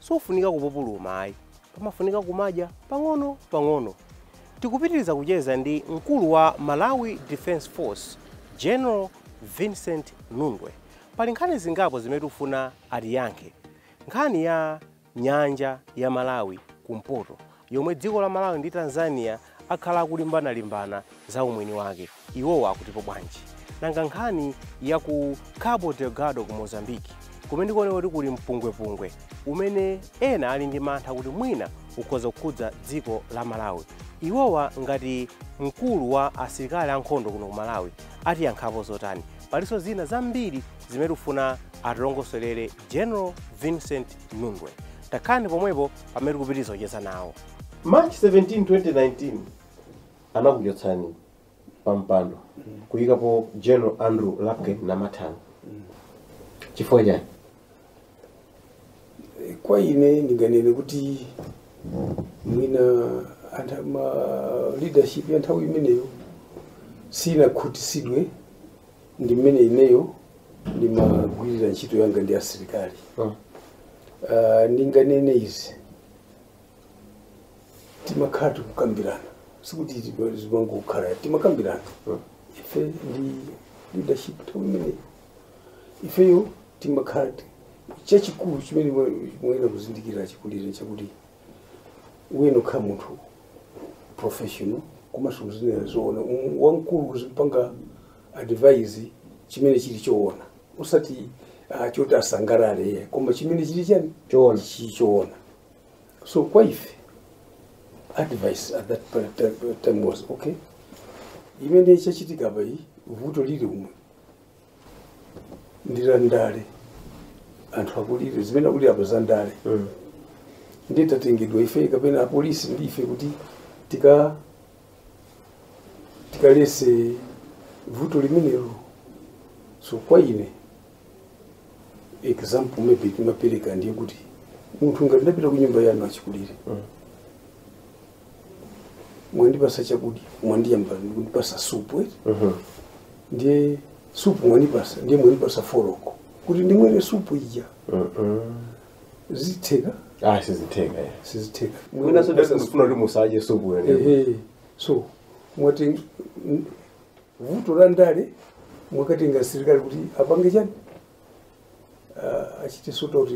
Sufunika kupupuluma ayi, pamafunika kumadya pang'ono pang'ono. Tikupitiliza kucheza ndi mkulu wa Malawi Defence Force General Vincent Nundwe. Pali nkhani zingapo zimene tikufuna atiyankhe. Nkhani ya Nyanja ya Malawi kumpoto yomwe dziko la Malawi ndi Tanzania akhala akulimbana limbana za umwini wake. Iwowa akutipo bwanji? Nanga nkhani ya ku Cabo Delgado ku Mozambique kumene kukuoneka kuti kuli mpungwepungwe umene ena ali ndi mantha kuti mwina ukhoza kukhudza dziko la Malawi. Iwowa ngati mkulu wa asilikali ankhondo kuno ku Malawi atiyankhapo zotani? Palinso zina zambiri zimene tikufuna atilongosolere General Vincent Nundwe. Takhalani pomwepo pamene tikupitiriza kucheza nawo. March 17, 2020 anakuchotsani pa mpando kuyikapo General Andrew Lapken Namathanga. Chifukwa chani? kwa ine ndinganene kuti mwina antha- ma leadership ya nthawi imeneyo sinakhutitsidwe ndi mmene ineyo ndimagwirira ntchito yanga ndi asilikali Mm. Ah, ndinganene izi timakhala tikukambirana sikuti tiba- zimangokhala timakambirana Mm. ife ndi leadership nthawi imeneyo ifeyo timakhala ti- chachikulu chimene muyenera kuzindikira achikulire chakuti uyenera ukhale munthu professional komanso uzinena zoona Um, wamkulu uzimpanga advise chimene chili choona osati uh, choti asangalale iye koma chimene chili chani Choona. chili choona so kwa ife advice at that point time- time was okay chimene chachitika apa ili vuto lili umu ndi la ndale anthu akulira zimene akulira pa zandale Mm. nde tatengedwa ife kapena apolisi ndi ife kuti tika tikaletse vuto limenelo so kwa ine example imene timapereka ndiye kuti munthu ngati ndapita ku nyumba yanu achikulire mwandipasa chakudya mwayamba kundipasa supu eti ndiye supu mwanipasa ndiye mwanipasa foroko kuti ndimwere supu ija zitheka ah sizitheka eh. sizitheka Mwina so- Pena sufuna kuti umwe supu yo Ehe. so mwati n- n- vuto la ndale mwakatenga asilikali kuti apange chani Ah, achite sort out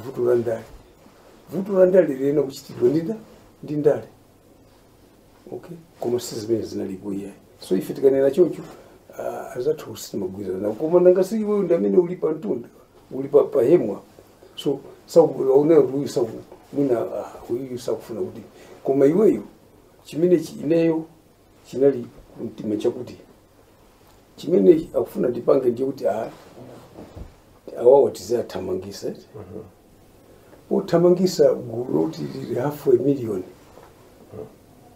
vuto la ndale vuto la ndale liyenera kuchitidwa ndi nda ndi ndale okay koma si zimene zinalipo iyayi so ife tikanena choncho ah, azathu sumagwirizana nawo koma nanga si iweyo ndi amene uli pa mtunda uli pa pa hemwa so sakuonera kuti uyu saku mwina ah, uyu sakufuna kuti koma iweyo chimene chi- ineyo chinali kumtima chakuti chimene akufuna ndipange ndiye kuti ah, awawo tizathamangitsa kuthamangitsa gulu loti lili hafu a million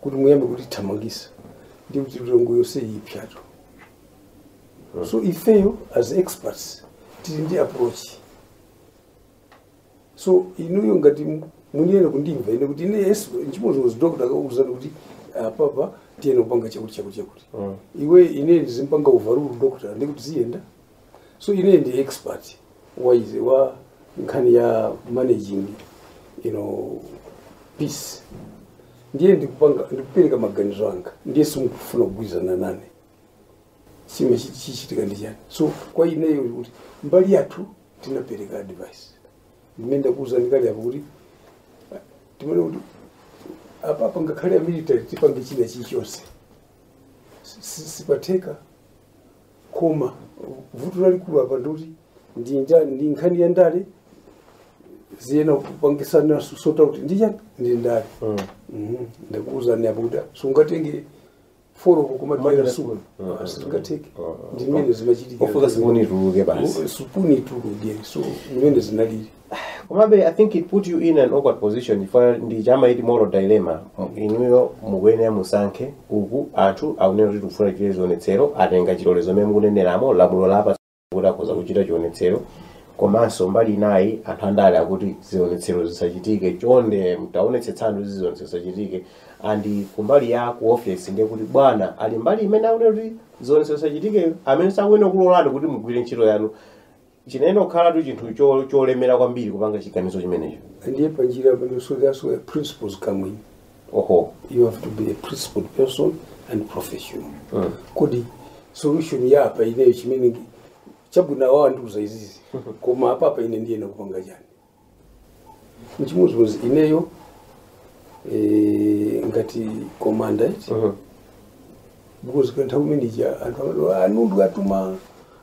kuti muyambe kulithamangitsa ndiye kuti Lilongwe yonse ipsatu so ifeyo as experts tili ndi approach so inuyo ngati mu- mukuyenera kundimva ine kuti ine yes nchimodzimodzi doctor akakuuzani kuti apapa tiyenera kupanga chakuti chakuti chakuti iwe ine ndizimpanga overrule doctor ndiye kuti ziyenda so ine ndi expert wa izi wa nkhani ya managing you know peace ndiye ndikupanga ndikupereka maganizo anga ndiye simukufuna kugwirizana nane chimene chichitike ndi chani so kwa ineyo kuti mbali yathu tinapereka advice ndimene ndakuuzani kale apo kuti ah, timaona kuti apapa ngakhale amilitary tipange china chilichonse Si- si- sipatheka koma vuto lalikulu apa ndikuti ndi nja- ndi nkhani ya ndale ziyenera kupangidwa sort out ndi ya ndi ndale Mhm. ndakuuzani apo kuti sungatenge foroko Mhm. kumadyera supu Ah, sizingatheke ah, ah. ndimene zimachitika ofika supuni ituluke basi supuni ituluke so ndimene zinalili komabe i think it put you in an awkward position chifukwa ndi chamaiti moral dilemma M- inuyo mukuyenera musankhe uku anthu akunena kuti tikufuna chile zionetsero atenga chilolezo mmene mukuneneramo lamulo lawapatsa kuti akhoza kuchita chionetsero komanso mbali inayi anthu andale akuti zionetsero zisachitike chonde mtaonetsetsani kuti zionetsero zisachitike and kumbali ya ku office ndiye kuti bwana ali mbali imene akunena kuti zionetsero zisachitike amene sakuyenera kukulolani kuti mugwire ntchito yanu chinayenera kukhalatu chinthu cho- cholemera kwambiri kupanga chiganizo chimenecho ndiye panjira pano so that's where principles come in oho you have to be a principled person and professional Mm. kodi solution ya apa ineyo chimene chabwino awa andiuza izizi koma apapa ine ndiyenera kupanga chani nchimodzimodzi ineyo eh, ngati komanda iti Mhm. because kwa nthawi imeneja anthu amati a Nundwe atuma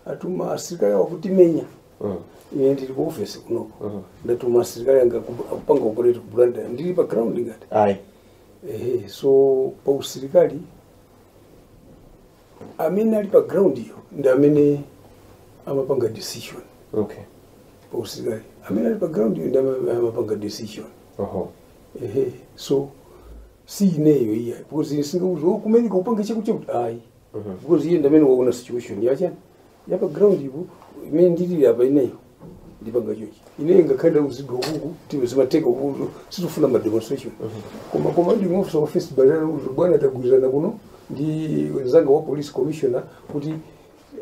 atuma asilikali awo kutimenya Mhm. ine ndili ku ofesi kunoko Mhm. ndatuma asilikali anga ku- akupanga operate ku Blantyre ndili pa ground ngati Ayi. ehe so pa usilikali amene ali pa ground iyo ndi amene amapanga decision okay pa usilikali amene ali pa ground iyo ndi amene amapanga decision oho ehe so si ineyo iyayi because sindingakuuze kumeneko upange chakutichakuti ayi because iye ndi amene waona situation yachiyani ya pa ground ipo imene ndili apa ineyo ndipanga chochi ineyo ngakhale ndauzidwa kuno kuti iwe zimatheka kuno sitifuna ma demonstration koma koma ndi officer of first battalion uzo bwana tagwirizana kuno ndi mnzanga wa police commissioner kuti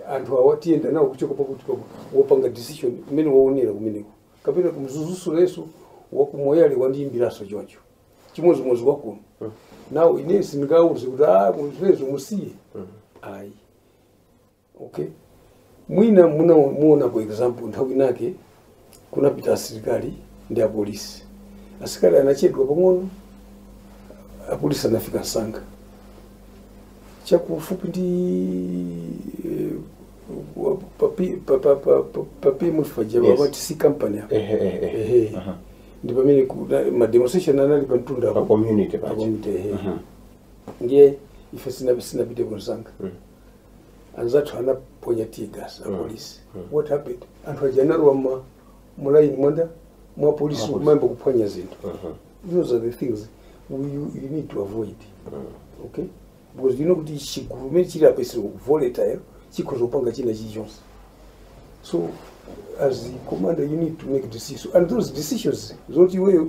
anthu awa tiyenda nawo kuchoka pakuti pakuti wopanga decision imene waonera kumeneko kapena ku Mzuzu leroso wa ku Moyale wandiyimbiraso choncho chimodzimodzi wakuno nawo ine sindingauze kuti ah kumvezo musiye ayi okay mwina muna- muona kwa example nthawi inake kunapita asilikali ndi apolisi asilikali anachedwa pang'ono apolisi anafika msanga chakufupi ndi eh, wa- papi- pa- pa- pa- pa- papi munthu paja Yes. amati C kampani apa Ehe, ehe, ehe. Ehe. Aha. ndi pamene kuna- ma demonstration anali pa mtunda Pa apo. community Pa paja. community, ehe. Aha. ndiye ife sina- sinapite msanga Mm. anzathu anaponya tear gas apolisi what happened anthu aja analowa mma- mulaini mwawo mwa polisi kumayamba kuphwanya zinthu those are the things we, you, you need to avoid okay because you know kuti chigulu chimene chili apa is very volatile chikhoza kupanga china chilichonse so as the commander you need to make decisions and those decisions zoti iweyo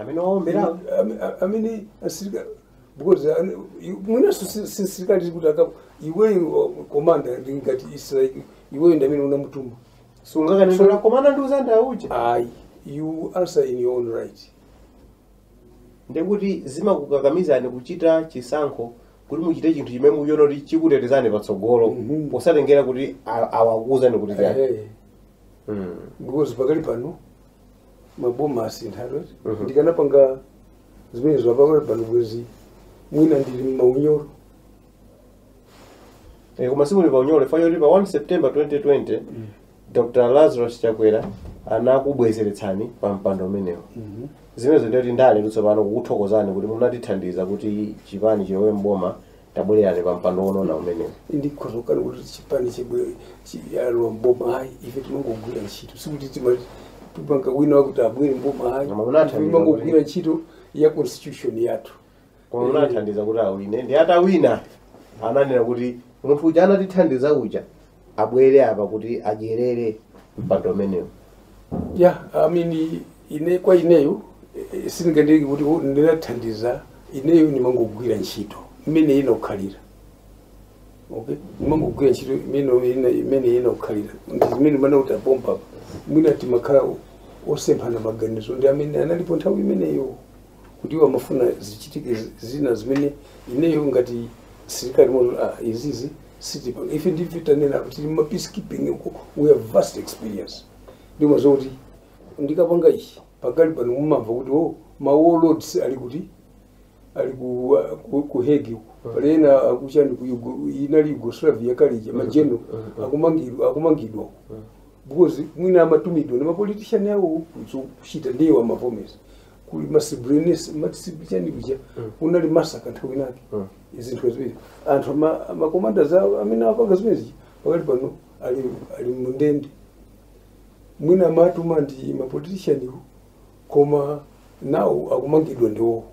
amene waombera Ame- a- amene asirika because ane- i- mwinanso si- si- sirikali ukayankha iweyo komanda ndi ngati msilikali iweyo ndi amene unamutuma sungakanene kuti komanda ndi mzanga uja ayi you answer in your own right ndekuti zimakukakamizani kuchita chisankho kuti muchite chinthu chimene mukuona kuti chikutetezani patsogolo Mhm. posatengera kuti a- awakuuzani kuti chani Eh, Mm. because pakali pano maboma asintha Mhm. ndikanapanga zimenezo pakali pano bwezi mwina ndili mmaunyoro Eh, koma simuli pa unyolo chifukwa choti pa 1 september 2020 dr lazarus chakwera anakubwezeretsani pa mpando umenewo zimenezo ndiyetu ndale tsopano kukuthokozani kuti munatithandiza kuti chipani chilowe mboma tabwererani pa mpando wonona umenewo ndikhoza kukana kuti chipani chilo- chilowe mboma ayi ife tinangogwira ntchito sikuti timati tipanga wina wakuti abwere mboma ayi Koma munathandiza kuti- timangogwira ntchito ya constitution yathu koma munathandiza kuti awine ndi atawina ananena kuti munthu uja anatithandiza uja abwere apa kuti adyerere mpando umenewu ya I mean, ine kwa ineyo eh, sindinganene kuti oh, ndinathandiza ineyo ndimangogwira ntchito imene inakhalira okay ndimangogwira ntchito imene ina- imene inakhalira ndi zimene mmanena kuti apompa mwina timakhala osemphana maganizo ndi amene analipo nthawi imeneyo kuti iwo amafuna zichitike zi- zina zimene ineyo ngati msilikali mono ah, izizi sitipa ife ndife tanena kuti ma peacekeeping uko we have vast experience ndimo zokuti ndikapanga ichi pakali pano mumamva kuti o ma warlords ali kuti ali ku, ku, ku Hague pali ena akuchani ku Yugo- inali Yugoslavia kale ija ma general akumangidwa akumangidwa because mwina amatumidwa ndi mapolitishani awo kuchita ndi iwo amavomeza kuli ma Srebrenica amati Sibi- chani kuja kunali massacre nthawi inake izinthu ziwiri anthu ama- amakomanda zawo amene apanga zimenezi pakali pano ali ali mundende mwina amatumwa ndi mapolitishaniwo koma nawo akumangidwa ndi iwowo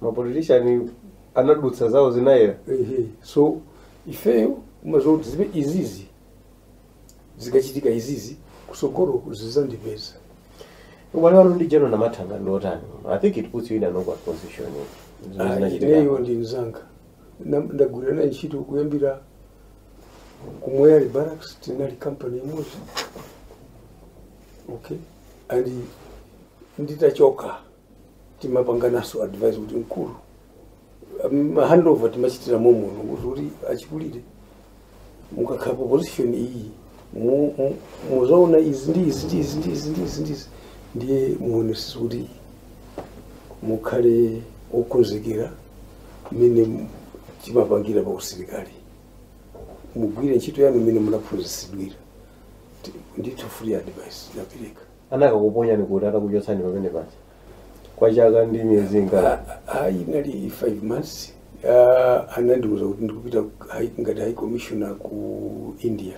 mapolitishani anadutsa zawo zinayera ehe so ifeyo umazoti zibe izizi zikachitika izizi kusogolo zizandipeza ubale wanu ndi General Namathanga ndi otani i think it puts you in an awkward position zimene zinachitika ineyo ndi mzanga Na- ndagwira naye ntchito kuyambira ku Moyale Barracks tinali kampani imodzi okay and nditachoka timapanganaso advise kuti mkulu um, handover timachitira momo kuti kuti achikulire mukakhala pa position iyi mu- mu- muzaona izi ndi izi ndi izi ndi izi ndi izi ndi izi ndiye muonesese kuti mukhale okonzekera mmene timapangira pa usilikali mugwire ntchito yanu mmene munaphunzitsidwira Ti- ndithu free advice ndinapereka anakakuponyani kuti atakuchotsani pamene paja kwa chaka ndi miyezi ingati Ah, ah, inali five months Ah, anandiuza kuti ndikupita ku- hai- ngati high commissioner ku India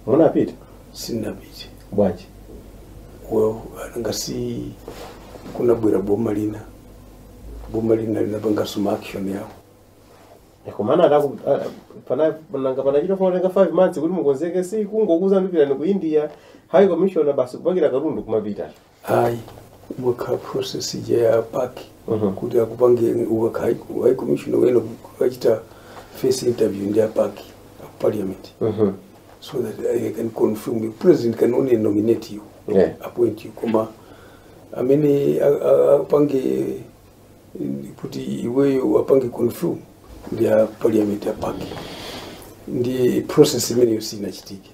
munapita sinapite bwanji well nanga si kunabwera boma lina boma lina linapangaso ma action yawo komana ataku a- pana nanga panachita kufunika 5 months kuti mukonzeke si kungokuuzani pitani ku India high commissioner basi kupakira katundu kumapita hayi kumakhala process ija ya PAC Mhm. kuti akupange ukakhala high commissioner uyenera ukachite face interview ndi a PAC a parliament mhm so that I can confirm you. President can only nominate you, yeah appoint you. Koma amene a- a- apange kuti iweyo wapange confirm ndi a parliament pa PAC ndi process imeneyo sinachitike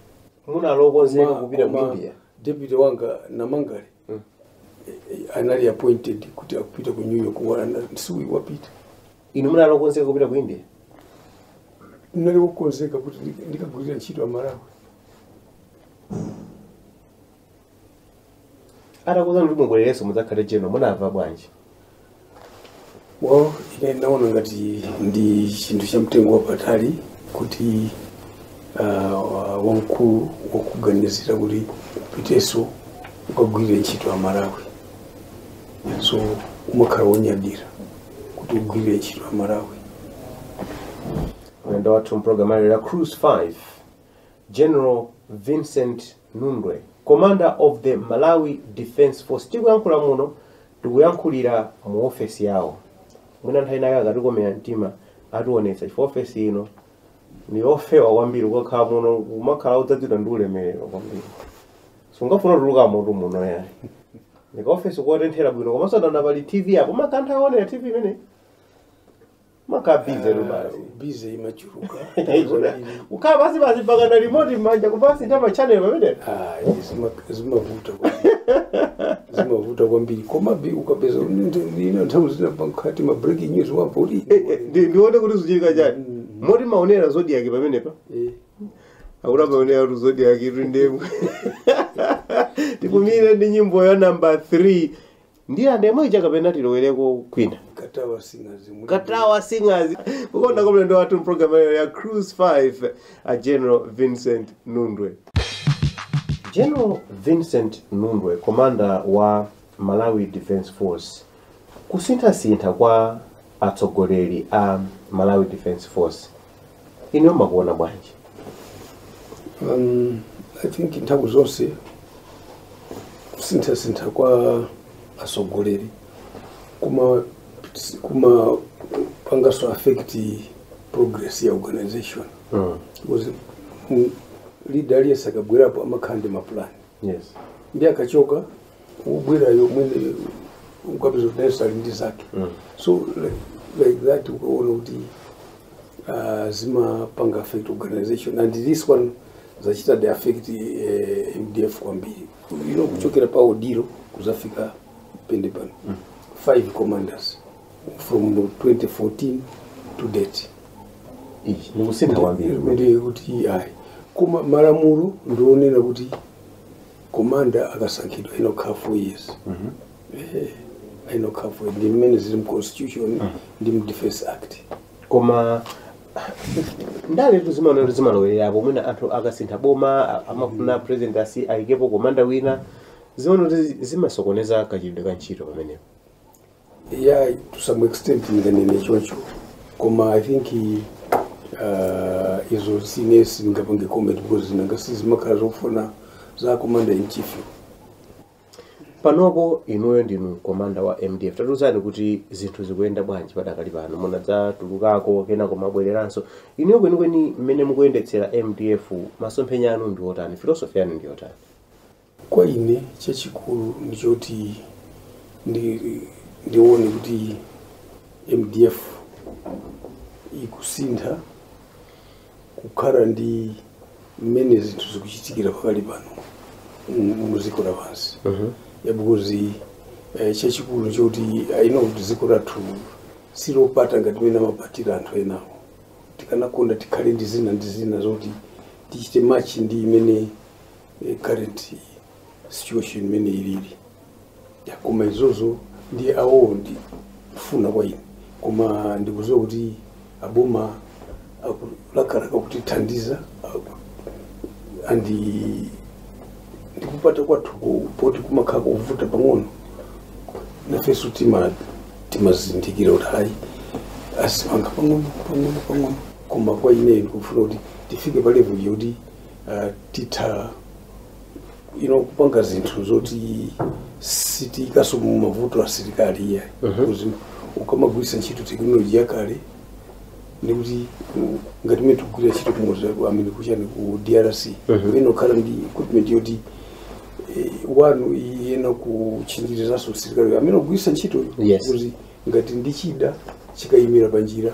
munali okonzeka kupita mu india deputy wanga namangale mm. anali appointed kuti akupita ku new york wanga si uyu wapita inu munali okonzeka kupita ku india ndinali wokonzeka kuti ndikagwirira ntchito amalawi atakuuzani kuti mubwererenso mudzakhale general munamva bwanji well ine ndinaona ngati ndi chinthu cha mtengo wapatali kuti uh, wamkulu wakuganizira kuti upitenso ukagwirire ntchito amalawi so umakhala wonyadira kuti ugwirire ntchito amalawi mlendo wathu mpulogalamu ya cruise 5 general vincent Nundwe, commander of the Malawi Defence Force. Tikuyankhula muno tikuyankhulira mu ofesi yawo. Mwina nthawi inayake akatikomera mtima ationetsa chifukwa ofesi ino ndi ofewa kwambiri kukakhala muno kumakhala kudzadzidwa ndi ulemerero kwambiri. Sungafune kutuluka moto muno yani. Ndika ofesi kotenthera bwino komanso ndaona pali TV apo mumatha kuonera TV imene. mumakhala bize basi bize imachuluka ukakhala basi basi mpaka na remote m'manja kumasintha ma channel pamenepa Ah, zima- zimavuta kwambiri. zimavuta kwambiri komabe ukapeza ina nthawi zina pankati ma breaking news wapoli Ndi- ndione kuti zikuchitika chani moti mumaonera zodiac pamenepa akuti amaonera kuti zodiac iri ndemwe tikumire ndi nyimbo ya namba 3 ndiye ademo ija kapena tilowereko kwina katawa singers muli- katawa singers kukonda kwa mlendo wathu mpulogalamu iyo ya cruise 5 a general vincent nundwe general vincent nundwe komanda wa malawi defence force kusinthasintha kwa atsogoleri a malawi defence force inuyo mumakuona bwanji um, i think nthawi zonse kusinthasintha kwa atsogoleri kuma kumapangaso affect progress ya organization mm. because mm, leader aliyense akabwerapo amakhala ndi mapulani yes ndiye akachoka kubwera wina ukapeza kuti nayenso ali ndi zake Mm. so like, like that ukaona kuti uh, zimapanga affect organization and this one zachitadi affect uh, mdf kwambiri you know kuchokera pa odillo kuzafika pa ine pano five commanders from 2014 to date Iyi. Ndikusintha kwambiri kumene. Ndiye kuti ayi koma malamulo ndi onena kuti komanda akasankhidwa inakhala four years Eh, inakhala four years. ndi mmene zili mu constitution ndi mu defense act koma ndaletu zimaoneka kuti zimalowererapo mwina anthu akasintha boma a- amafuna president asi ayikepo komanda wina zimaoneka kuti zimasokoneza kachitidwe ka ntchito pamenepo yeah to some extent ndinganene choncho koma i think uh, izo ine sindingapange comment because nanga si zimakhala zofuna za commander in chief panopo inuyo ndinu komanda wa mdf tatiuzani kuti zinthu zikuyenda bwanji padakali pano munadzatulukako kenako mwabwereranso inuyo kwenikweni mmene mukuyendetsera mdf masomphenya anu ndi otani philosophy yanu ndi yotani Kwa ine chachikulu ndi choti ndi ndione kuti MDF ikusintha kukhala ndi mmene zinthu zikuchitikira pakali pano muziko la pansi mm -hmm. ya because eh, chachikulu n'choti I know kuti ziko lathu silopata ngati mene amapatira anthu enawo tikanakonda tikhale ndi zina ndi zina zoti tichite machi ndi imene e, current situation imene ilili Ya, koma izozo ndiye awo ndi kufuna kwa ine koma ndikuziwa kuti aboma akulakalaka kutithandiza aku- and ndi kupata kwathu ku- poti kumakhala kuvuta pang'ono nafeso tima timazindikira kuti ayi azipanga pang'ono pang'ono pang'ono koma kwa ine ndikufuna kuti tifike pa level yoti uh, titha you know, kupanga zinthu zoti sitiikaso mu mavuto asilikali iyayi because ukamagwirisa ntchito tekinoloji yakale ndikuti mm, ngati mene tikugwirira ntchito kumodzi amene kuchani ku drc ina kukhala ndi equipment yoti eh, one iyenera kutchinjirizaso msilikali amene akugwirisa ntchito Yes. kuti ngati ndichida chikayimira panjira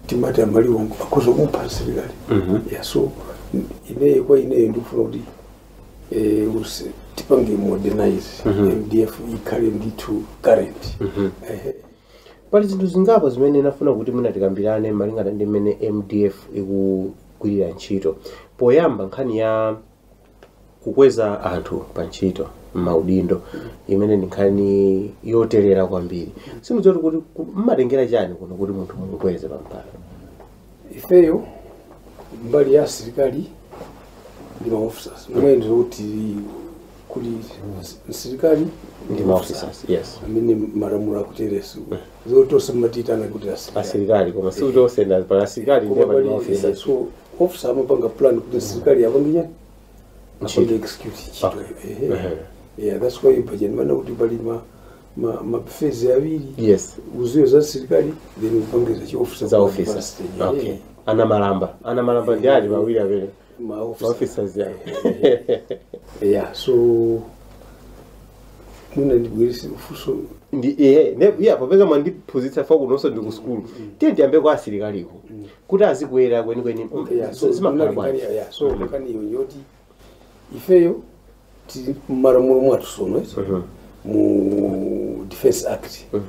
timati amaliwo akhoza kupha msilikali yeah, so ineyo kwa ineyo ndikufuna kuti eh, usi- tipange modernize mdf ikhale ndithu current Ehe. pali zinthu zingapo zimene ndinafuna kuti mwina tikambirane malingana ndi mmene mdf ikugwirira ntchito poyamba nkhani ya kukweza anthu pa ntchito m'maudindo imene ndi nkhani yoterera kwambiri simudziwa kuti ku- mmatengera chani kuno kuti munthu mumukweze pampando ifeyo mbali ya asilikali ndi maofficers mwina ndi kuti kuli asilikali ndi maofficers yes amene malamulo akuteronso zoti onse mmatitana kuti asilikali asilikali koma sikuti onse ndi asilikali ndiye pali maofficers so officer amapanga plan kuti msilikali apange chani execute ntchito Ehe. Ehe. yeah that's why budget mana kuti pali ma ma ma phase awiri yes uziyo za msilikali then upangeza chi officer za kwa officer advanced stage. okay Ehe. ana malamba ana malamba ndi ali pawiri amene ma ma officer officers ya yeah so mwina ndibwereze mfuso ndi ehe ne iya popeza mwandiphunzitsa fa kunonso ndi ku sukulu tiye ndiyambe kwa asilikaliku kuti azikwera kwenikweni Okay, yeah, so zimakhala unali bwanji kani- yeah, so Mhm. nkhani iyo yoti ifeyo tili mmalamulo mwathu tsono Mhm. mu defense act Mhm.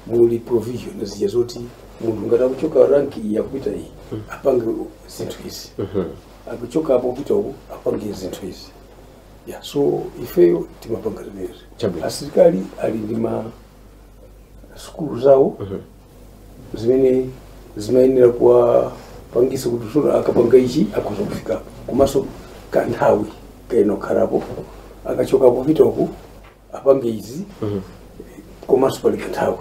muli provision zija zoti munthu ngati akuchoka ranki iyi akupita iyi apange zinthu izi Mhm. akuchoka apo kupita uku apange zinthu izi yeah, so ifeyo timapanga zimenezi Chabwino. asilikali ali ndi ma sukulu zawo zimene zimayenera kuwapangisa kuti tsono akapanga ichi akhoza kufika komanso kanthawi kayenera kukhalapo akachoka apo kupita uku apange izi komanso pali kanthawi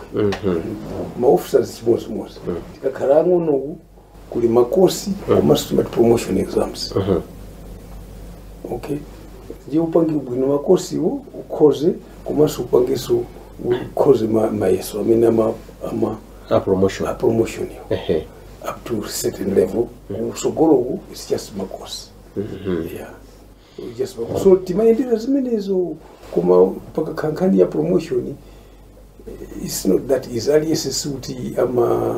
maofisas chimodzimodzi tikakhala ang'onoku kuli makosi komanso timati promotion exams okay ndiye upange bwino makosiwo ukhoze komanso upangenso ukhoze ma- mayeso amene ama ama a promotion a promotion yo ehe up to certain level kutsogoloku is just makosi yeah yes baba so timayendera zimenezo koma pakakhala nkhani ya promotion eh, it's not that easy aliyense sikuti ama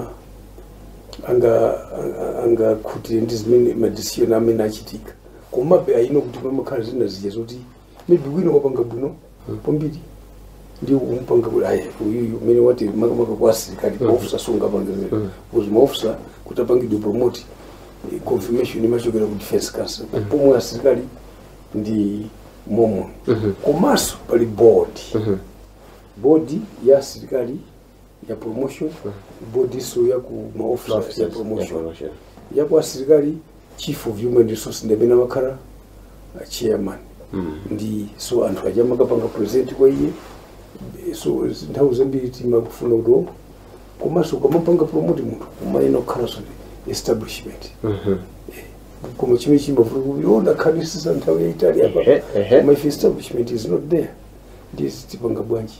anga anga- angakhutire ndi zimene madecision amene achitika komabe ayino kuti pamakhala zina zija zoti maybe wina wapanga bwino kwambiri ndi kumpanga kuti ayi uyuyu mmene wati makamaka kwa asilikali ofisa sungapangizira because maofisa kuti apangidwe promote eh, confirmation imachokera ku defense council pomwe asilikali ndi momwe komanso pali board board ya asilikali ya promotion board-so ya ku ma officers ya promotion ya kwa asilikali chief of human resource ndi amene amakhala uh, chairman ndiye so anthu aja amakapanga present kwa iye so z- nthawi zambiri timafuna kuti oh, komanso ukamapanga promote munthu umayenera kukhalanso ndi establishment koma chimene chimavuta kuti oh, ndakhalitsitsa nthawi yaitali apa Ehe, ehe. koma if establishment is not there ndiye tipanga bwanji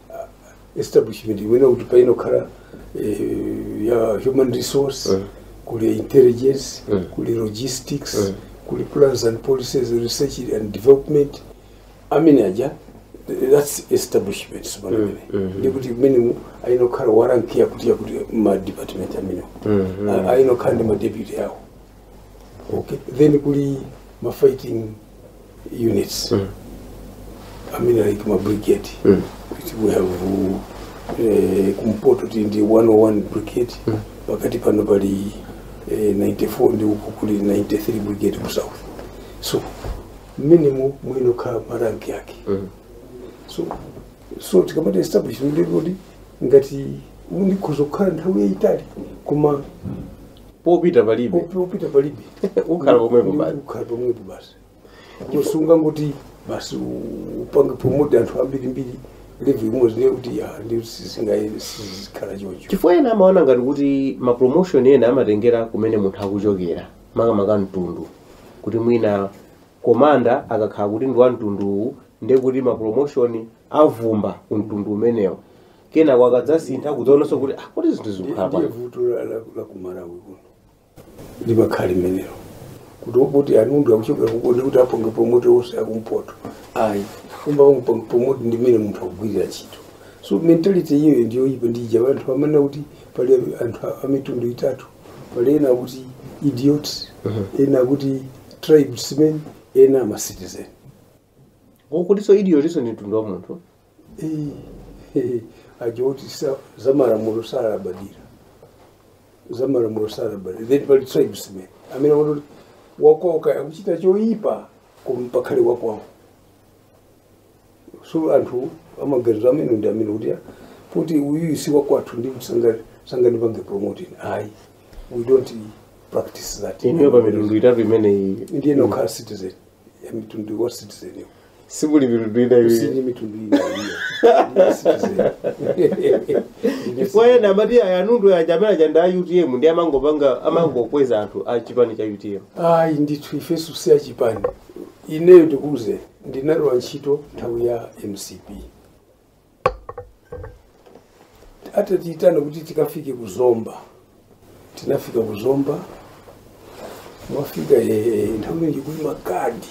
establishment imanena kuti payenera kukhala eh, ya human resource Mm. kuli intelligence Mm. kuli logistics Mm. kuli plans and policies research and development amene aja that's establishment zimenezo Mm, mm. ndikuti m'menemu ayenera kukhala wa rank yakuti yakuti ma department amenewo Mm, mm. ayenera kukhala ndi ma deputy awo okay then kuli ma fighting units mm. i mean like ma brigade mm. which we have uh, eh, kumpoto tili ndi 101 brigade mm. pakati pano pali eh, 94 ndi uku kuli 93 brigade ku south so m'menemo muyenera kukhala maranki yake mm. so so tikamati establish ndikuti ngati ndikhoza kukhala nthawi yayitali koma popita palibe Upi- upita palibe ukhala pomwepo basi ukhala pomwepo basi sungangoti basi u- upange promote anthu ambirimbiri level imodzi ndiye kuti ya ndiye sizikhala choncho chifukwa ena amaona ngati kuti ma promotion ena amatengera kumene munthu akuchokera makamaka mtundu kuti mwina komanda akakhala kuti ndi wa mtunduwu ndiye kuti ma promotion avumba ku mtundu umenewo kenako akadzasintha kudzaonanso kuti ah, kodi zinthu zikukhala ndiye bwanji vuto la- la- la kumalawi kuno limakhala limenelo kuti opoti anundu akuchokera ku Nkhonde kuti apange promote onse akumpoto ayi kumapanga panga promote ndi mmene munthu akugwirira ntchito so mentality iyoyo ndiyoipa ndi uja anthu amanena kuti pali anthu a- amitundu itatu pali ena akuti idiots ena akuti tribesmen ena ama citizen ndiye kuti so idiots ndi mtundu wa munthu aja oti za malamulo salabadira za malamulo salabadira then pali tribesmen amene woti wakwawo akuchita choyipa koma bola akhale wakwawo so anthu amaganizo amenewo ndi amene amati kuti uyu si wakwathu ndi kuti sanga- sangandipange promote ayi we don't practice that inuyo pa mitundu itatu imeneyi ndiye mukhala citizen ya mtundu wa citizen simuli mitundu ina iwiri sindili mitundu ina chifukwa ena amati a Nundwe aja amene aja ndi a utm ndiye amangopanga amangokweza anthu a chipani cha utm ayi ndithu ifeso si achipani ineyo ndikuuzeni ndinalowa ntchito nthawi ya mcp atatiitana kuti tikafike ku zomba tinafika ku zomba mwafika eh, nthawi imeneyi kuli makadi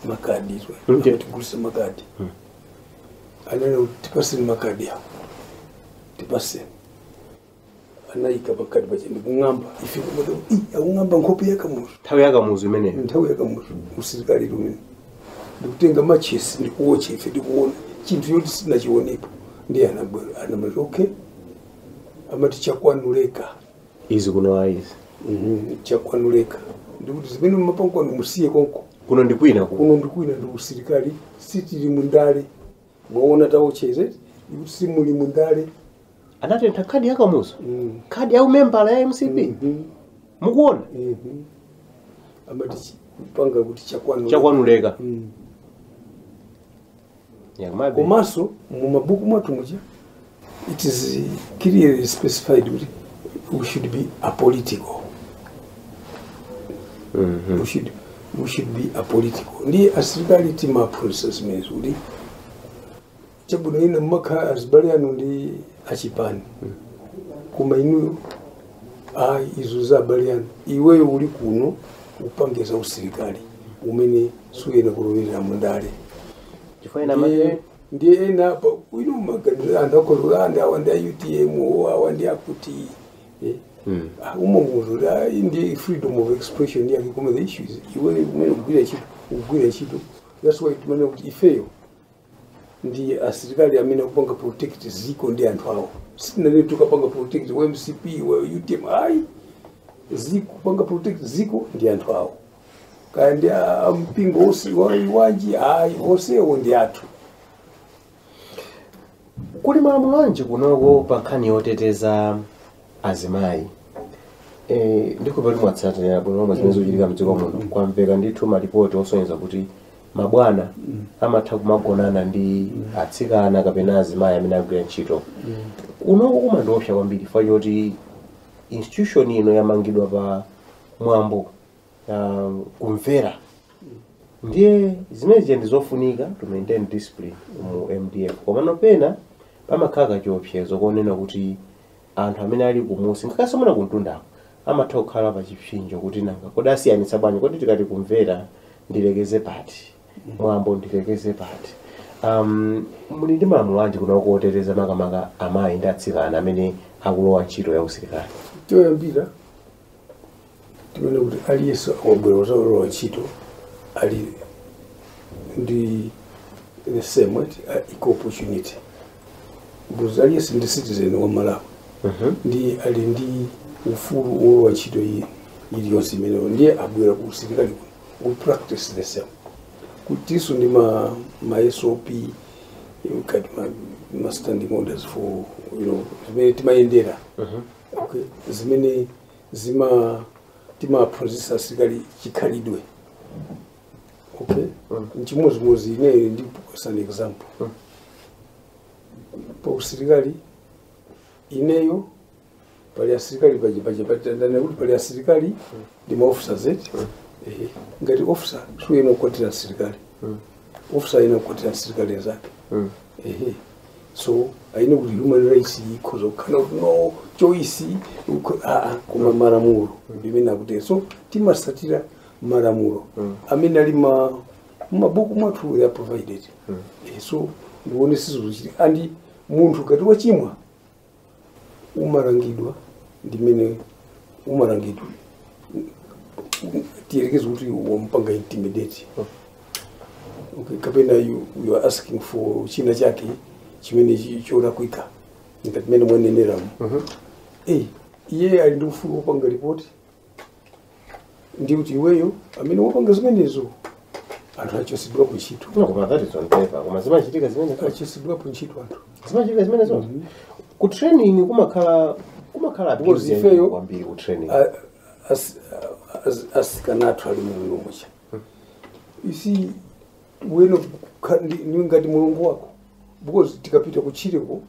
makadi Ndiyo. tigulise makadi anene kuti tipaseni makadi awo tipaseni anayika pakati pache ndikung'amba ife kumati "Ih, akung'amba nkhope yakamuzu nthawi yakamuzu imeneyo nthawi yakamuzu usilikali umene ndikutenga machesi ndikuwotcha ife ndikuona chinthu choti sitinachiwonepo ndiye anabwera anamati okay amati chakwanuleka izi kuno ayi izi Mhm, chakwanuleka ndikuti zimene mumapanga kwanu musiye konko kuno ndikwina kuno kuno ndikwina ndi usilikali sitili mundale mwaona taotcha izi ndikuti simuli mundale anatentha khadi ya kamuzu Mm. khadi ya umembala ya mcp Mhm. mukuona Mhm. amati chi- panga kuti chakwanu chakwanuleka Mm. Yakumabe. komanso mumabuku mwathu muja It is clearly specified kuti we should be apolitical. We should, we should be apolitical. Ndi asilikali timaphunzitsa zimenezo kuti chabwino ena mmakhala azibale anu ndi achipani koma inuyo ayi izo za abale anu iweyo uli kuno upange za usilikali umene suyenera kulowerera mundale chifukwa ena amati ndiye ena apa pano amaganiza anthu akulolanda awa ndi a utm o awa ndi akuti eh, Mm. ah, umo ndi kuti ah, iyi ndi freedom of expression yake koma the issue is iwe umene ukugwira ntchito ukugwira ntchito that's why timanena kuti ifeyo ndi asilikali amene akupanga protect ziko ndi anthu awo sitinanene tikapanga protect wa mcp wa utm ayi dziko kupanga protect dziko ndi anthu ake kaya ndi a- a mpingo usi- wa- wanji ayi onsewo ndi athu kuli malamulo anji kunoko pa nkhani yoteteza azimayi Eh, ndikuona ngati mwatsatira bwino lomwe zimene zikuchitika mdziko muno kwamveka ndithu malipoti osonyeza kuti mabwana amatha kumagonana ndi atsikana kapena azimayi amene akugwira ntchito kunoko zikumandiopsa kwambiri chifukwa choti institution ino yamangidwa pa mwambo ah, kumvera ndiye zimenezi ndi zofunika to maintain discipline mu mdf komano pena pamakhala kachiopsezo konena kuti anthu amene ali kumunsi ngakhalenso mwina kumtundako amatha kukhala pa chipsinjo kuti nanga kodi asiyanitsa bwanji kodi tikati kumvera ndilekeze pati mwambo ndilekeze pati um, muli ndi malamulo anji kunoko oteteza makamaka amayi ndi atsikana amene akulowa ntchito ya usilikali choyambira chimene kuti aliyense akabwera kuzalowa ntchito ali ndi the same what uh, equal opportunity because aliyense ndi citizen wa malawi nde ali ndi ufulu wolowa ntchito ina iliyonse imeneyo ndiye abwera ku usilikali kuno we practice the same kutinso ndi ma, ma sop kaya ma, ma standing orders for you know zimene timayendera okay. zimene zima timaphunzitsa asilikali chikhalidwe okay mm. nchimodzimodzi ineyo ndipase an example mm. pa usilikali ineyo pali asilikali pachipachipatandane kuti pali asilikali mm. ndi maofisa zeti mm. eh, ngati ofisa suyenera kukwatira asilikali mm. ofisa ayenera kukwatira asilikali anzake mm. eh, so ayi nde kuti human rights ikhoza kukhala kuti no choice ukho- aa koma malamulo ndimene akutero so timasatira malamulo amene ali m'mabuku mwathu they are provided Eh, so ndiye sizochitika ndi munthu ngati wachimwa umalangidwa ndi mmene umalangidwa tiyerekeze kuti wampanga intimidate okay, kapena you, you are asking for china chake chimene chi- cholakwika ngati mmene mwaneneramu Eh, iye ali ndi ufulu wopanga ripoti ndiye kuti iweyo amene ukupanga zimenezo anthu achosedwapo ntchito No, koma that is on paper. Koma zimachitika zimene achosedwapo ntchito anthu zimachitika zimenezo. Ku training kumakhala kumakhala Because abuse ifeyo- kwambiri ku training. A- as- as- asikana athu ali muno mucha isi wena kukha- ndi- ndi ngati mulungu wako because tikapita kutchireko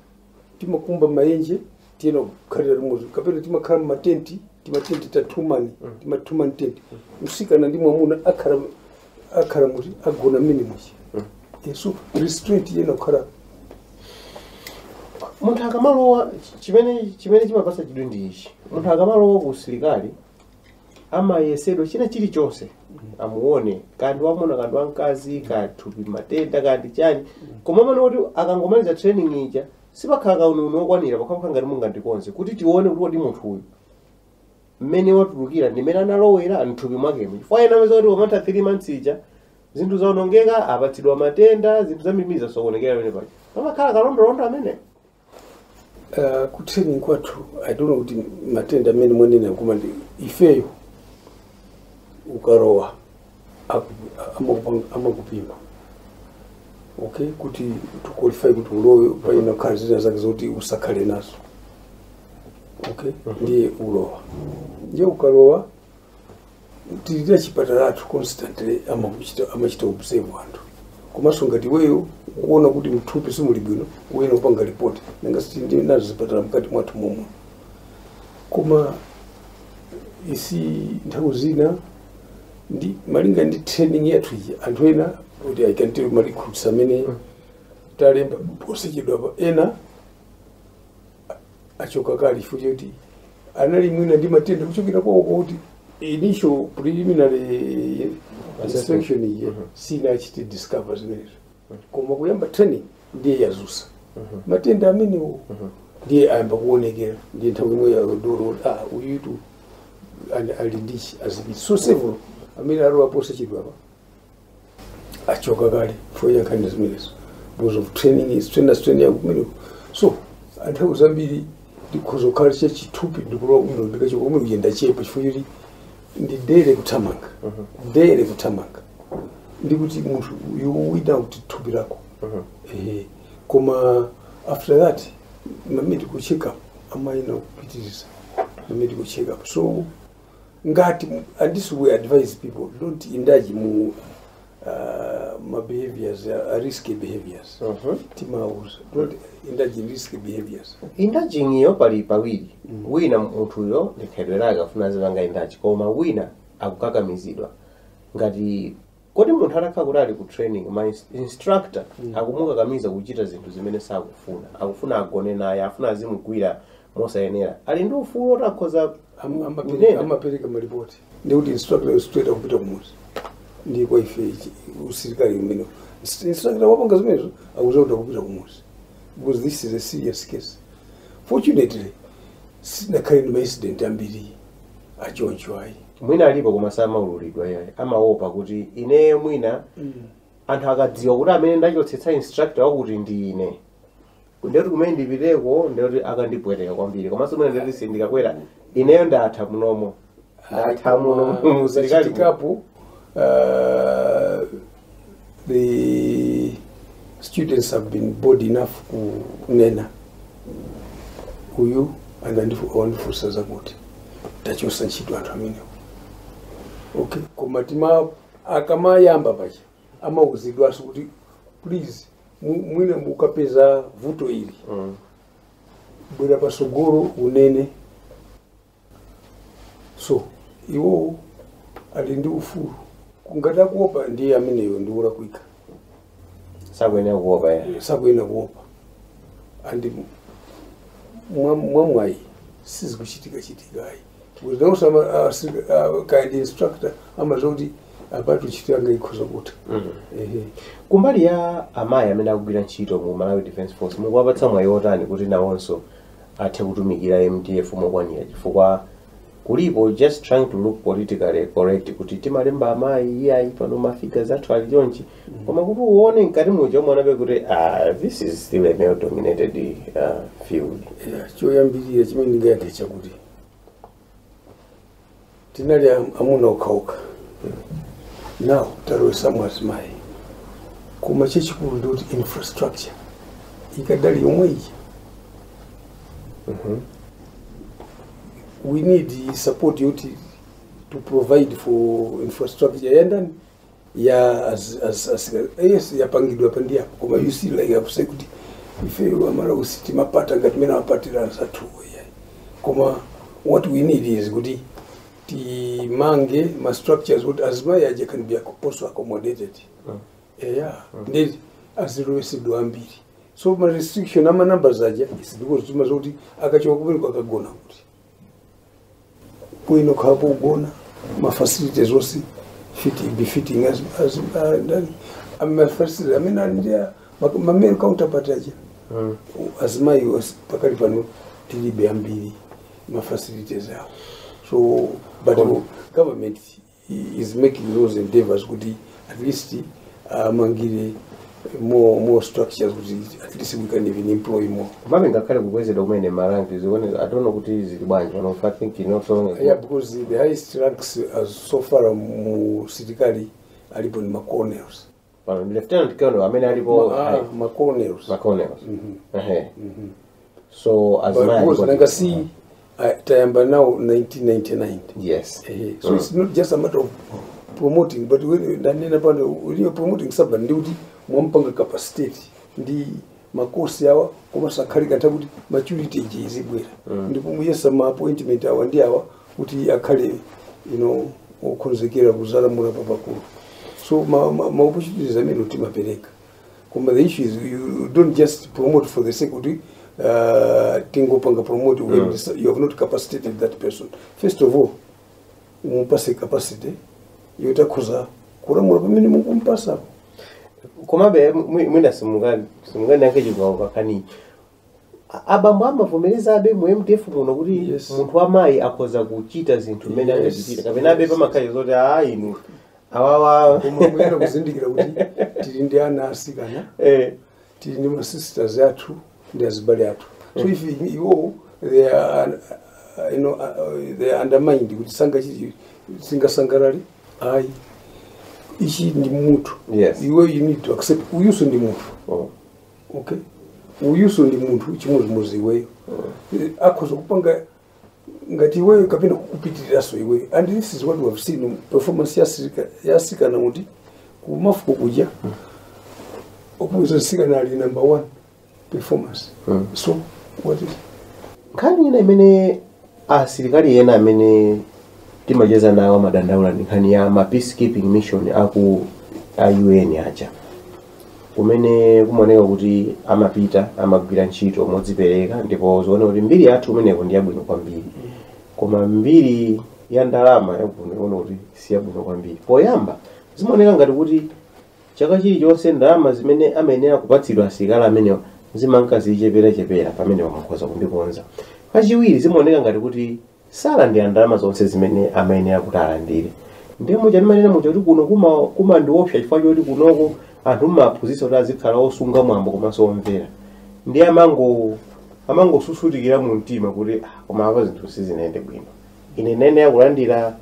timakumba maenje tiyenera kukhalira limodzi kapena timakhala mmatenti timatenti ta two man tima two man tenti msikana ndi mwamuna akhala akhala muti agona mmene muchi so restraint iyenera kukhala munthu akamalowa chimene chimene chimapatsa chidwi ndi ichi munthu akamalowa ku usilikali amayezedwa china chilichonse amuone kaya ndi wamwamuna kaya ndi wamkazi kaya ndi thupi matenda kaya ndi chani koma mumaona kuti akangomaliza training ija sipakhala kauniuni wokwanira pamakhala ngati mungandikonze kuti tione kuti kodi munthu uyu mmene watulukira ndi mmene analowera mthupi mwakemo chifukwa ena amapezeka kuti pamatha 3 months ija zinthu zaonongeka apatsidwa matenda zinthu zambiri zasokonekera pamene paja pamakhala kalondolondo amene Uh, ku training kwathu I don't know kuti matenda amene mwanena koma ndi ifeyo ukalowa aku- amakupa- amakupima okay kuti to qualify kuti ulowe payenera kukhala zina zake zoti usakhale nazo okay ndiye ulowa ndiye ukalowa tili ndi chipatalatu constantly amakuchita amachita observe anthu komanso ngati iweyo ukuona kuti mthupi simuli bwino uyenera upange ripoti nanga si tili nazo zipatala mkati mwathu momwe koma izi nthawi zina ndi malinga ndi training yathu iyi anthu ena kuti I can tell you ma recruits amene talemba posachedwapa ena achoka kale chifukwa choti anali mwina ndi matenda kuchokera kwawo kwawo kuti initial preliminary inspection ija sinachite discover zimenezo koma kuyamba training ndiye yadzutsa matenda amenewo ndiye ayamba kuonekera ndiye nthawi yomweyo adokotala ah uyutu ali ndichi azipita so several amene alowa posachedwapa achoka kale chifukwa cha nkhani zimenezo because of training is trainer strain ya kumeneko so nthawi zambiri ndikhoza kukhala cha chithupi ndikulowa kumene ndikachoka kumene kuyenda chepa chifukwa choti ndi daily kuthamanga daily kuthamanga ndikuti munthu you wida kuti thupi lako ehe koma after that ma medical check up amayenera kupitiriza ma medical check up so ngati and this we advise people don't indulge mu uh, ma behaviors uh, risky behaviors Mhm. timauza don't indulge in risky behaviors indulging iyo pali pawiri wina munthuyo ndi khalidwe lake afuna azipanga indulge koma wina akukakamizidwa ngati kodi munthu atakhala kuti ali ku training ma ins- instructor akumukakamiza kuchita zinthu zimene sakufuna akufuna agone naye afuna azimugwira mosayenera ali ndi ufulu oti akhoza Am- amapereka- kunena. amapereka malipoti ndikuti instructor yo straight akupita kumudzi ndi kwa ife ichi- usilikali umene instructor wapanga zimenezo akudziwa kuti akupita kumudzi because this is a serious case fortunately sinakhale ndi maincident ambiri achoncho ayi mwina alipo koma samaululidwa iyayi amaopa kuti ineyo mwina anthu akadziwa kuti amene ndachotsetsa instructor wakuti ndi ine ndekuti kumene ndipiteko ndekuti akandipweteka kwambiri komanso mwina ndekuti sindikakwera ineyo ndatha munomo ndatha muno musilikali zachitikapo the students have been bold enough kunena uyu anandifu- wandifunsa zakuti tachotsa ntchito anthu amenewo okay koma tima akamayamba paja amauzidwanso kuti please mu- mwina mukapeza vuto ili bwera patsogolo unene so iwowo ali ndi ufulu ngati akuopa ndiye ameneyo ndi wolakwika sakuyenera kuopa ya sakuyenera kuopa and mwa- mwamwayi sizikuchitika chitika ayi cause nowadays kind instructor amadziwa kuti apatu ntchito yanga ikhoza kutha Ehe. kumbali ya amayi amene akugwira ntchito mu malawi defense force mukuwapatsa mwayi wotani kuti nawonso athe kutumikira mdf mokwanira chifukwa kulipo just trying to look politically correct kuti timalemba amayi iyayi pano mafiga zathu ali chonchi koma kuti uone mkati muja umaonabe kuti ah, this is still a male dominated uh, field Yeah, choyambirira chimene ndingayankhe chakuti tinali am- amuna okhaokha now talowetsamo azimayi koma chachikulu ndikuti infrastructure ikadali yomwe iyi we need support yoti to provide for infrastructure yandani ya as, as, as, yes yapangidwa pa ndi apo koma you see like I've said kuti ifeyo amalawi sitimapata ngati mmene apatira anzathu ya koma what we need is kuti timange ma structures kuti azimai aja can be acco- also accommodated eya ndi azilowetsedwa ambiri so ma restriction ama numbers aja is because timati akachoka kumene akagona kuti kuno kaya pogona mafacilities onse fit befitting as, as, uh, mafacilities amene ali ndi ma male counterpart aja Mm. azimayi os- pakali pano tilibe ambiri mafacilities awo so but Kom- government is making those endeavors kuti at least amangire more more structures kuti at least we can even employ more komabe ngakhale kukwezedwa kumene maranki zikuoneka I don't know kuti zili bwanji pano i think not so long ago. yeah because the highest ranks as so far mu silikali alipo ni macolonels Pano ndi lieutenant colonel amene alipo Ma- ah, ma colonels. ma colonels. Ehe. So as But man. cause nanga si ah, tayamba nawo 1999. Yes. Eh, so it's not just a matter of promoting but when ndanena pano when you're promoting somebody ndiye kuti mwampanga capacitate ndi makosi awa komanso akhale kanthawi koti maturity ija izibwera ndipo mwayesa ma appointment awa ndi awa kuti akhale you know okhonzekera kuzalamula papakulu so ma, ma, ma opportunities amene timapereka koma the issue is you don't just promote for the sake kuti uh, tingopanga promote when this- you have not capacitated that person first of all mumupase capacity yoti akhoza kulamula pamene mukumpasapo komabe mwi- mwina simungani simungani yake chikwawo kakani A- abambo amavomereza abe mu mdf muno kuti Yes. munthu wamayi akhoza kuchita zinthu mmene Yes. angachitira kapena abe pamakhala zoti a inu awawa koma muyenda kuzindikira kuti tili ndi ana asikana eh, tili ndi ma sisters athu ndi azibale athu so if iwo they are uh, you know, uh, they are undermined kuti sangachite singasangalali ayi ichi ndi munthu Yes. iwe you need to accept uyuso ndi munthu Mm. okay uyuso ndi munthu chimodzimodzi iweyo Eh, akhoza kupanga ngati iweyo kapena kukupitiriranso iweyo and this is what we have seen performance yasirika- yasikana kuti kumafuko kuja akuuza nsikana ali number one performance so what is nkhani ina imene asilikali ena amene timacheza nawo amadandaula ndi nkhani ya ma peacekeeping mission aku a un aja kumene kumaoneka kuti amapita amagwira ntchito modzipereka ndipo zikuoneka kuti mbiri yathu kumeneko ndi yabwino kwambiri koma mbiri ya ndalama ikuoneka kuti si yabwino kwambiri poyamba zimaoneka ngati kuti chaka chilichonse ndalama zimene amayenera kupatsidwa asilikali amenewa zimanka zichepera chepera pamene mukhoza kundikonza kachiwiri zimaoneka ngati kuti salandira ndalama zonse zimene amayenera kuti alandire ndiye muja ndimanena muja kuti kuno kuma- kumandiopsa chifukwa choti kunoko anthu mmaphunzitsa kuti azikhala osunga mwambo komanso omvera ndiye amango amangosusutikira mu mtima kuti "Ah, koma apa zinthu sizinayende bwino ine ndayenera kulandira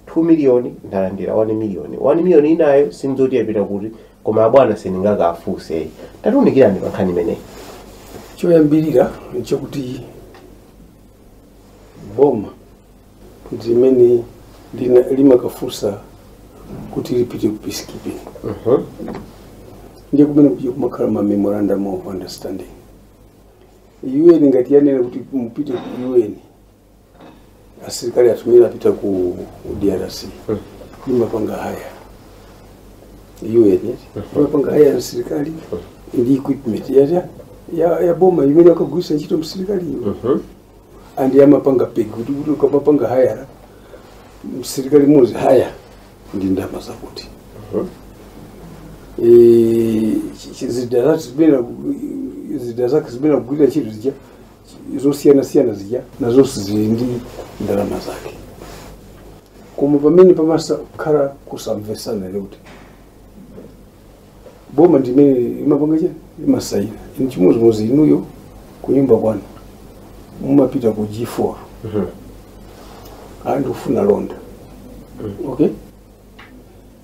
2 miliyoni ndalandira 1 miliyoni 1 miliyoni inayo sindidziwa kuti yapita kuti koma abwana sindingakafunse tatiunikirani pa nkhani imeneyi choyambirira nchakuti boma ndi limene lina- limakafunsa kuti lipite ku peacekeeping ndiye kumene kuja kumakhala ma memorandum of understanding un ngati yanena kuti mupite ku un asilikali athu mwina apita ku drc limapanga haya UN imapanga haya msirikali ndi equipment ya ya ya, ya boma imene akagwiritsa ntchito msirikali iyo Mhm. and amapanga peg kuti kuti ukamapanga haya msirikali mmodzi haya ndi ndama zakuti Mhm. Eh, chi- chi- zida zake zimene zida zake zimene akugwirira ntchito zija zosiyanasiyana zija nazonso zili ndi ndalama zake koma pamene pamakhala kusamvesana ndi kuti boma ndimene imapanga chani imasayina ini chimodzimodzi inuyo kunyumba kwanu mumapita ku g4 a ndikufuna londa okay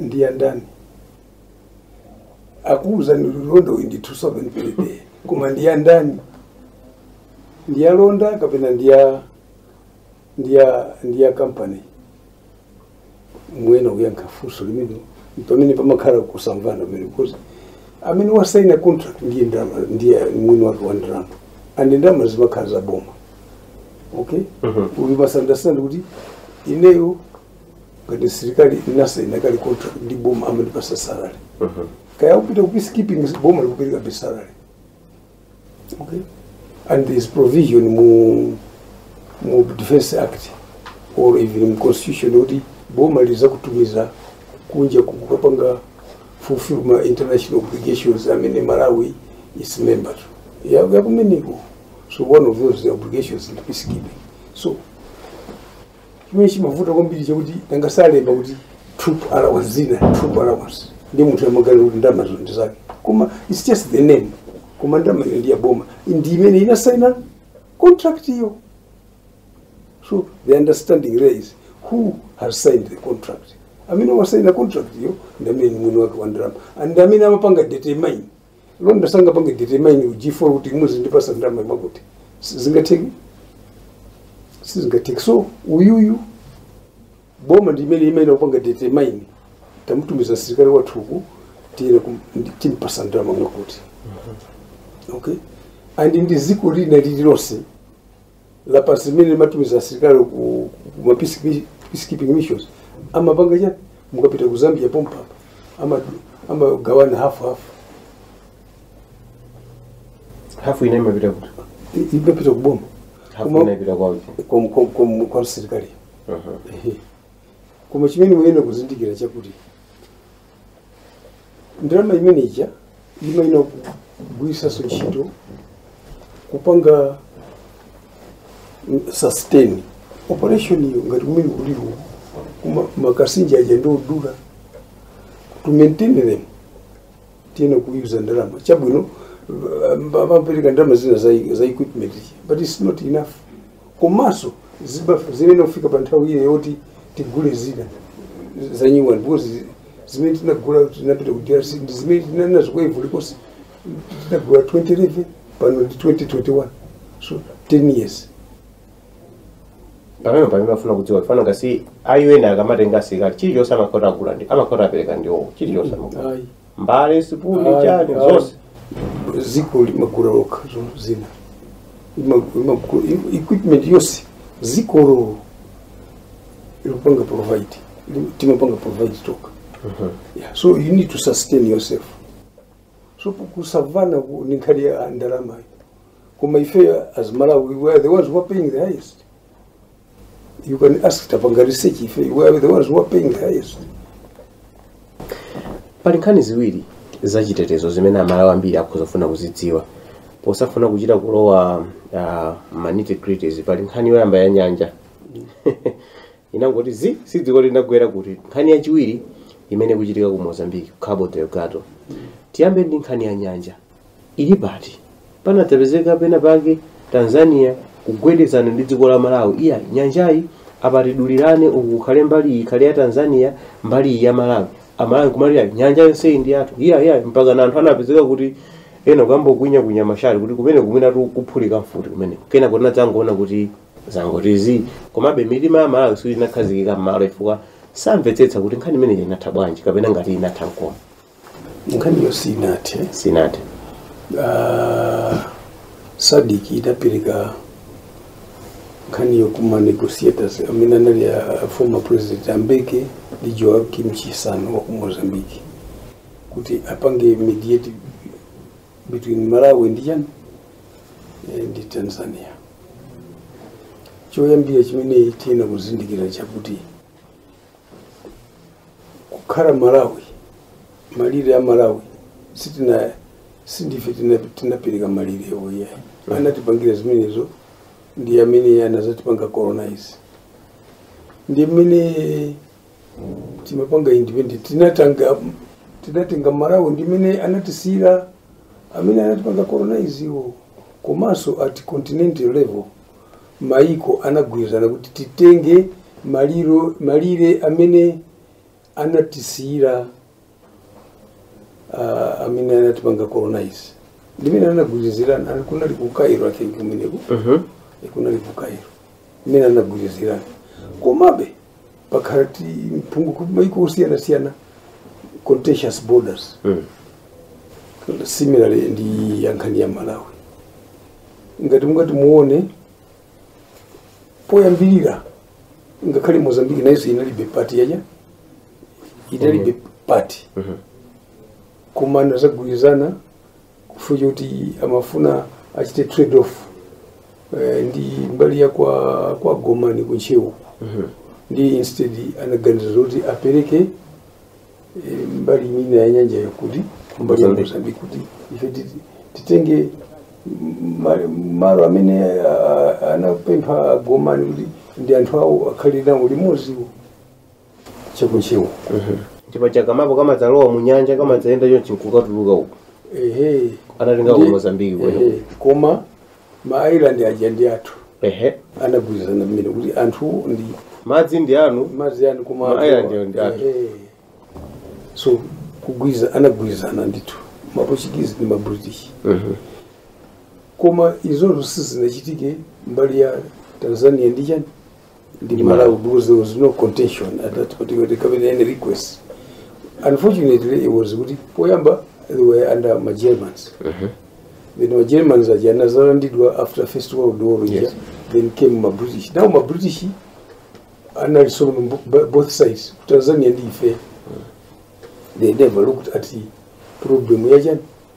ndi ya ndani akuuzani londa uyu ndi 2000 per day koma ndi ya ndani ndi ya londa kapena ndi ya ndi ya ndi ya company muyenera kuyankha funso limene pamene pamakhala kusamvana pamene because amene wasaina contract ndiye ndalama ndiye mwini wake wa ndalama and ndalama zimakhala za boma okay you must understand kuti ineyo ngati msilikali ndinasaina kale contract ndi boma amandipasa salary kaya kupita ku peacekeeping boma likuperekabe salary okay and there is provision mu mu defense act or even mu constitution kuti boma lizakutumiza kunja kukapanga fulfill ma international obligations amene malawi is member wakumeneko so one of those the obligations ndi peacekeeping so chimene chimavuta kwambiri chakuti tangolemba kuti troop allowance zina troop allowance ndi munthu amaganiza kuti ndama zonse ndi zake koma its just the name koma ndama iyo ndi yaboma ndi imene inasaina contract iyo so the understanding there is who has signed the contract amene wasaina contract iyo ndi amene ni mwini wake wa ndalama and amene amapanga determine londa sangapange determine ku g4 kuti muzindipasa ndalama mwakuti sizingatheki sizingatheki so uyuyu boma ndi imene imayenera kupanga determine tamutumiza msilikali wathu uku tiyeni timpatse ndalama mwakuti okay and ndi dziko lina lililonse lapansi limene limatumiza asilikali ku ku ma peace- peacekeeping missions amapanga chani mukapita ku zambia pompapa ama- amagawana hafu hafu hafu ina imapita kuti I- imapita kuboma hafu Koma- ina imapita kwa uti kwa- kwa- kwa- kwa msilikali Ehe. koma chimene muyenera kuzindikira chakuti ndalama imeneja imayina kugwiritsanso ntchito kupanga mm, sustain operation iyo ngati kumene aliko kuma- makasinja aja ndi odula to maintain them tiyenera kuyuza ndalama chabwino uh, amapereka ndalama zina za, za equipment but it's not enough komanso zibafa zimene kufika pa nthawi iyo yoti tigule zina zanyuwani because zimene tinagula tinapita ku drc ndi zimene tinali nazo ku ivory coast tinagula 2011 pano ndi 2021 so 10 years pamene amafuna kudziwa ufana ngati a UN akamatenga asilikali chilichonse amakhoza agula ndi amakhoza apereka ndiwo chilichonse amakhota ayi mbale sipuni Ayi, chani ayi. zonse dziko limagula lokha zonse zina Lima- limagula i- equipment yonse dzikolo likupanga provide Lim- timapanga provide tokha yeah. so you need to sustain yourself so kusamvana ku- ni nkhani ya ndalamayo koma ife as malawi we are the ones who are paying the highest You can ask tapanga research ife we are the ones who are paying the highest. pali nkhani ziwiri za chitetezo zimene amalawi ambiri akhoza kufuna kuzidziwa posafuna kuchita kulowa uh, ma nitty gritties pali nkhani yoyamba ya nyanja inangoti zii sitidziwa kuti inagwera kuti nkhani yachiwiri imene ikuchitika ku mozambique cabo delgado tiyambe ndi nkhani ya nyanja ili pati panadzapezeka pena pake tanzania kugwedezana ndi dziko la malawi iya nyanjayi apatidulirane uku kukhale mbali iyi ikhale ya tanzania mbali iyi ya malawi amalawi kumalira nyanja yonseyi ndi yathu iya iya mpaka na anthu anapezeka kuti ena kuyamba kukwinya kwinya mashati kuti kumene kumene ati kuphulika mfuti kumene kena kuti tadzangoona kuti zangoti zii komabe mitima ya amalawi sikuti inakhazikika mmalo chifukwa samvetsetsa kuti nkhani imeneyi inatha bwanji kapena ngati inatha nkomwe nkhaniyo sinathe sinathe uh, sadc idapereka nkhani yo kwa ma negotiators amene anali a former president a mbeki ndi joaquim chissano wa ku mozambique kuti apange mediate between malawi ndi chani eh, ndi tanzania choyambira chimene tiyenera kuzindikira chakuti kukhala malawi malire a malawi sitina sindife tina- tinapereka malirewo ayi anatipangira zimenezo ndi amene anazatipanga colonize ndi mmene timapanga independent tinatanga tinatenga malawi ndi mmene anatisiyira amene anatipanga colonize iwo komanso at continental level maiko anagwirizana kuti titenge mali malire amene anatisiyira uh, amene anatipanga colonize ndimene anagwirizirana kunali ku Cairo I think kumeneko Mhm. kunali ku Cairo imene anagwirizirana komabe pakhala mpungwe ku maiko osiyanasiyana contentious borders Mm. similarly ndi yankhani ya malawi ngati mungati muone poyambirira ngakhale mozambiki nayonso inalibe part ija inalibe part koma anazagwirizana chifukwa choti amafuna achite trade off eh, ndi mbali ya kwa, kwa gomani ku ntcheu ndi instead anaganiza zoti apereke eh, mbali imene ya nyanja yaku mbali ya Mozambique. mozambiki kuti ife titi- titenge ma- malo amene ah, anapempha gomani kuti ndi anthu awo akhale nawo limodzi chaku Ntcheu chipatsa kamapu kamadzalowa mu nyanja kamadzayenda chonchi nkukatuluka uko ehe anatenga ku Ndi- mozambiki komweko ehe. koma ma island aja ndi athu ehe anagwirizana mmene kuti anthu ndi madzi ndi anu madzi anu koma Ma island awo ndi athu. Ehe. so kugwiza anagwirizana ndithu maportuguese ndi mabritish koma izozo sizinachitike mbali ya tanzania ndiye ndi malawi because there was no contention at that particular there coming any request unfortunately it was kuti poyamba they were under ma germans then ma germans aja anazalandidwa after first world war ija Yes. then came ma british now ma british analiso on bo- bo- both sides ku tanzania ndi ife they never looked at the problem yachani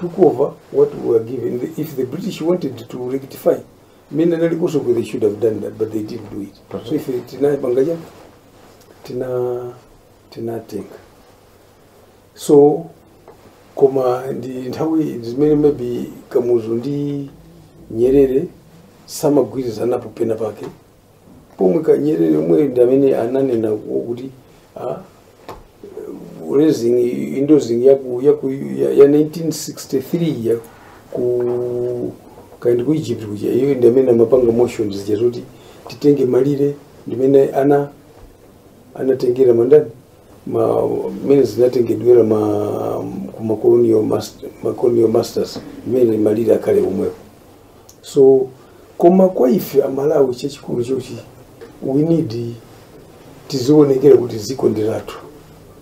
took over what we were given. The- If the British wanted to rectify, mmene analiko kuno they should have done that, but they didn't do it. So if it- tinapanga ja, tina tinatenga. So koma nthawi zimene maybe kamuzu ndi nyerere samagwirizanapo pena pake pomwe Nyerere yemwe ndi amene ananena ku- kuti ah, raising endorsing ya ku ya ku ya, ya 1963 ya ku kaya ndi ku Egypt kuja iye ndi amene amapanga motions zija zoti titenge malire ndimene ana anatengera mandani ma mene zinatengedwera ma ku makolonial master, makolonial masters mene malire akale omwepo so koma kwa ife a Malawi chachikulu choti we need tizionekera kuti dziko ndi lathu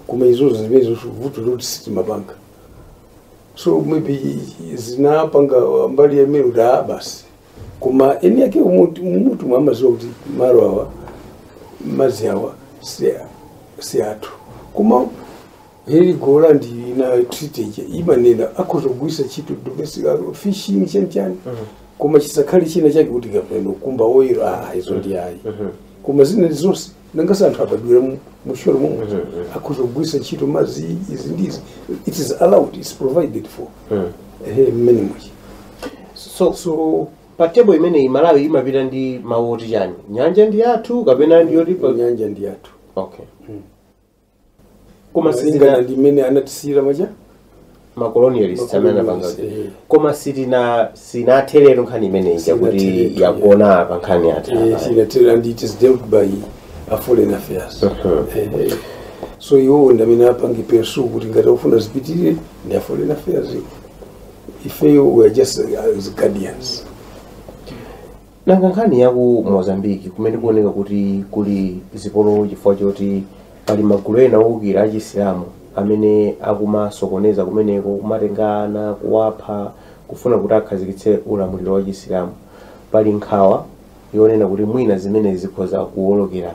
koma izozo zimenezonso vuto loti sitimapanga so maybe zinapanga mbali ya Maluda basi koma eni yake mmutu mmutu mwawo amadziwa kuti malo awa madzi awa si si athu koma ili gola ndi na treaty ija imanena akhoza kugwiritsa ntchito domestic kaya fishing chani chani koma chisakhale china chake kuti kapena kumba oil ah izo ndi ayi koma zina zonse nangasi anthu abadwira mu- musholo momwe akhoza kugwiritsa ntchito madzi izi ndi izi it is allowed it's provided for ehe very much so so pa tebo imeneyi malawi imapita ndi mawu oti chani nyanja ndi yathu kapena ndi yolipa nyanja ndi yathu okay koma malingana ndi mmene anatisiyira maja macolonialist amene anapanga kuti Eh. koma sitina sinatherero nkhani imeneyi Sinatherero. yakuti yagona pa nkhani yatha Eh, sinatero and it is dealt by a foreign affairs Eh, so iwo ndi amene apange pursue kuti ngati akufuna zipitirire ndi a foreign affairs ifeyo we are just uh, as guardians nanga nkhani ya ku mozambique kumene kuoneka kuti kuli zipolowe chifukwa choti pali magulu ena owukira achisilamu amene akumasokoneza kumeneko kumatenga ana kuwapha kufuna kuti akhazikitse ulamuliro wa chisilamu pali nkhawa yonena kuti mwina zimenezi zikhoza kuwolokera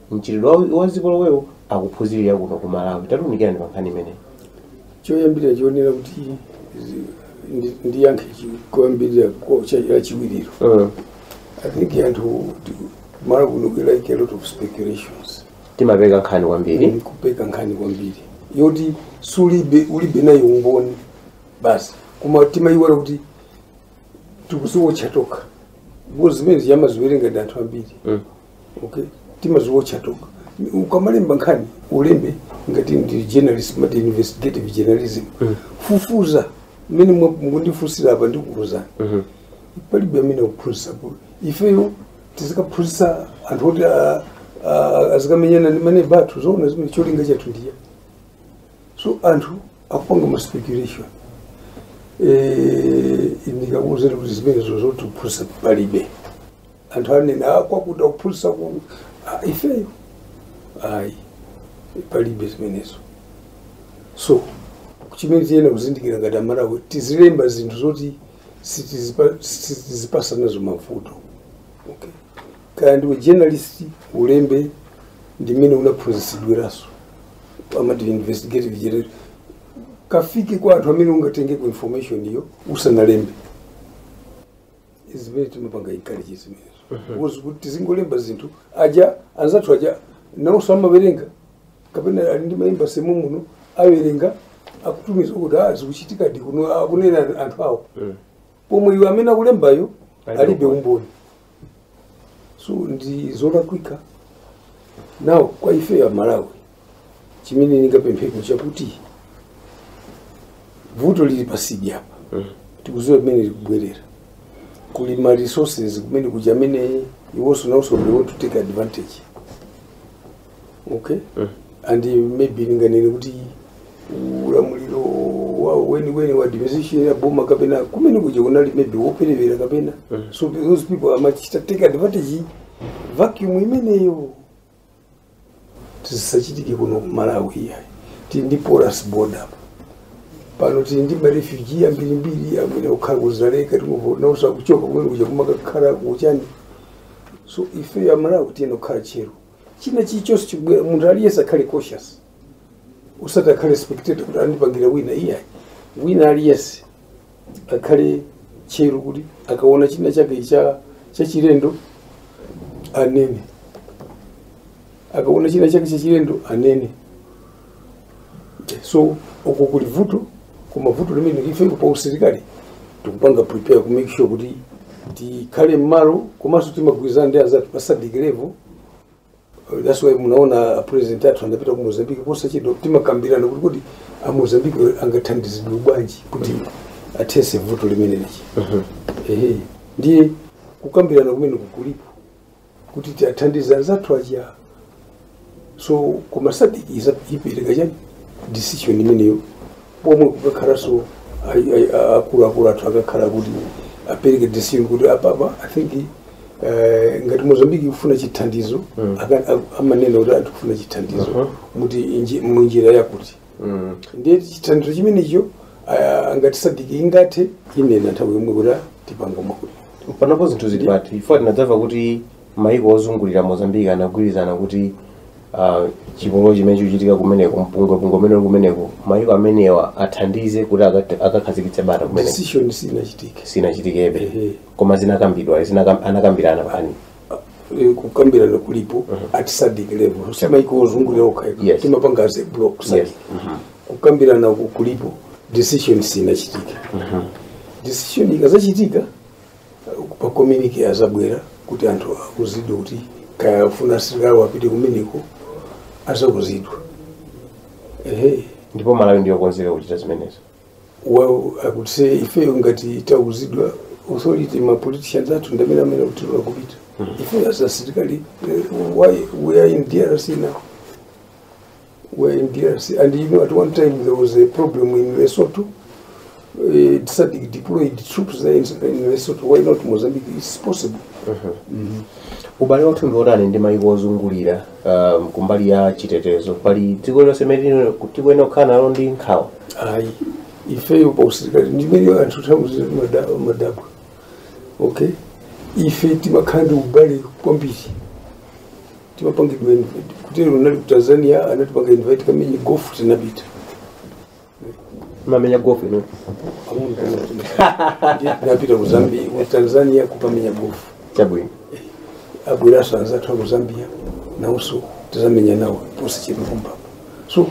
mchitidwe wa- wa zipolowewo akuphunzirira kuno ku malawi tatiunikirani pa nkhani imeneyi choyambirira choonera kuti zi- ndi- ndiyankhe chi- koyambirira ko- cha- lachiwirilo Mm. i think anthu ti- Malawi kuno we like a lot of speculations timapeka nkhani kwambiri Ndi kupeka nkhani kwambiri yoti sulibe ulibe nayo umboni basi koma timayiwala kuti tikuziwotcha tokha because zimene zija amaziwerenga ndi anthu ambiri Mm. okay timaziwotcha tokha ukamalemba nkhani ulembe ngati ndi journalist amati investigative journalism fufuza mmene mwa- mukundifunsira apa ndikuuzani palibe amene akuphunzitsa kuno ifeyo tizikaphunzitsa anthu oti a- a- azikamenyana ndi maneba athu zoona zimenezo cholinga chathu nchiya so anthu akupanga ma speculation Eh, ndikakuuzani kuti zimenezo zoti kuphunzitsa palibe anthu anene "Ah, kwakuti akuphunzitsa ku Ah, ifeyo ayi palibe zimenezo so chimene tiyenera kuzindikira ngati amalawi tizilemba zinthu zoti sitizipa- sitizipasa nazo mavuto okay. kaya ndiwe journalist ulembe mmene unaphunzitsidwiranso amati investigative journalism kafike kwa anthu amene ungatengeko information iyo usanalembe zimene timapanga encourage zimenezo because kuti tizingolemba zinthu aja anzathu aja nawonso amawerenga kapena ali ndi ma embassy muno awerenga akutumiza kuti a zikuchitikadi kuno akunena anthu awo pomwe iwe amene akulembayo Alibe alibe umboni. umboni so ndi zolakwika now kwa ife amalawi chimene ndingapempheko chakuti vuto lili patsidya apa mm. tikuziwa kumene likubwera kuli ma resources kumene kuja amene iwonso nawonso they want to take advantage okay mm. and maybe ndinganene kuti ulamuliro wawo weniweni wa administration ya boma kapena kumene kuja kunali maybe woperevera kapena mm. so those people amachita take advantage vacuum imeneyo zisachitike kuno ku malawi iyayi tili ndi porous border pano tili ndi marefugee ambirimbiri amene akukhala ku Dzaleka ena akutha kuchoka kumene kuja kumakakhala kuchani so ife amalawi tiyenera kukhala tcheru china chilichonse chikubwera munthu aliyense akhale cautious usati akhale spectator kuti andipangira wina iyayi wina aliyense akhale tcheru kuti akaona china chake chachilendo anene akaona china chake chachilendo anene so uko kuli vuto koma vuto limeneli ife pa usilikali tikupanga prepare ku make sure kuti tikhale mmalo komanso timagwirizana ndi anzathu pa SADC level that's why munaona a president athu anapita ku mozambique posachedwa timakambirana kuti kuti a mozambique angathandizidwe bwanji kuti athese vuto limeneli chani ehe ndiye kukambirana kumene kulipo kuti tiathandize anzathu aja so koma SADC iza- ipereka chani decision imeneyo pomwe kukakhalanso ai- ai- a- akuluakulu athu akakhala kuti apereke decision kuti apapa i think eh, ngati mozambique ikufuna chithandizo Mm. aka- a- amanena kuti akufuna chithandizo Mhm. muti inji- munjira yakuti Mm. ndiye chithandizo chimenecho ah, ngati SADC ingathe inena nthawi yomwe kuti tipanga mwakuti panopo zinthu zili pati ife tinadzamva kuti maiko ozungulira mozambique anagwirizana kuti uh, chipolowe chimene chikuchitika kumeneko mpungwepungwe umene uli kumeneko maiko amenewa athandize kuti akat- akakhazikitse bata kumeneko decision sinachitike sinachitikebe Ehe. koma zinakambidwa zinakam- anakambirana pano Eh, kukambirana kulipo at SADC level si maiko ozungulira okha Yes. timapanga as a block Yes. SADC kukambirana ku- kulipo decision sinachitike decision ikazachitika pa communique azabwera kuti anthu auzidwe kuti kaya afuna asilikali apite kumeneko azauzidwa ehe ndipo malawi ndiyokonzeka kuchita zimenezo well i could say ifeyo ngati tauzidwa authority ma politicians athu ndamene amanena kuti akupita ifeyo as asilikali eh, why we are in drc now were in DRC. And you know, at one time there was a problem in Lesotho. Uh, SADC deployed troops there in, in Lesotho. Why not Mozambique? It's possible. ubale wathu ndi wotani ndi mayiko ozungulira um, kumbali ya chitetezo pali dziko lonse limene tikuyenera kukhala nalo ndi nkhawa Ayi, ifeyo pa usilikali ndi mene anthu nthawi zina timada- madabwa. Okay? Ife timakhala ndi ubale kwambiri. timapangidwa invite kuti lero ndinali ku tanzania anatipanga invite kamenye gofu tinapita mamenya gofu ino Amuna kana tuna- Ndiye tinapita ku zambia ku tanzania kukamenya gofu chabwino abweranso anzathu aku zambia nawonso tizamenya nawo posachedwa kumapo so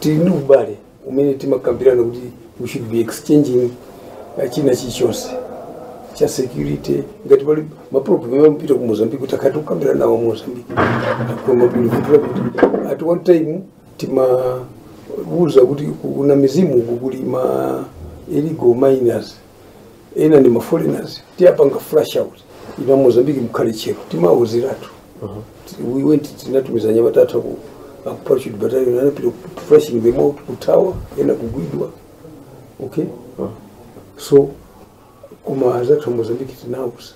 tili ndi ubale umene timakambirana kuti we should be exchanging uh, china chilichonse cha security ngati pali maproblem timapita ku mozambique tikathe kukambirana nawo mozambique koma bwinivutira kuti at one time timawauza kuti ku Namizimu uku kuli ma illegal miners ena ndi maforeigners tiwapanga flush out inu a mozambiki mukhale tcheru timawauziratu we went tinatumiza anyamata a ku parachute battalion anapita ku- flushing them out kuthawa ena kugwidwa okay so koma anzathu a mozambiki tinawauza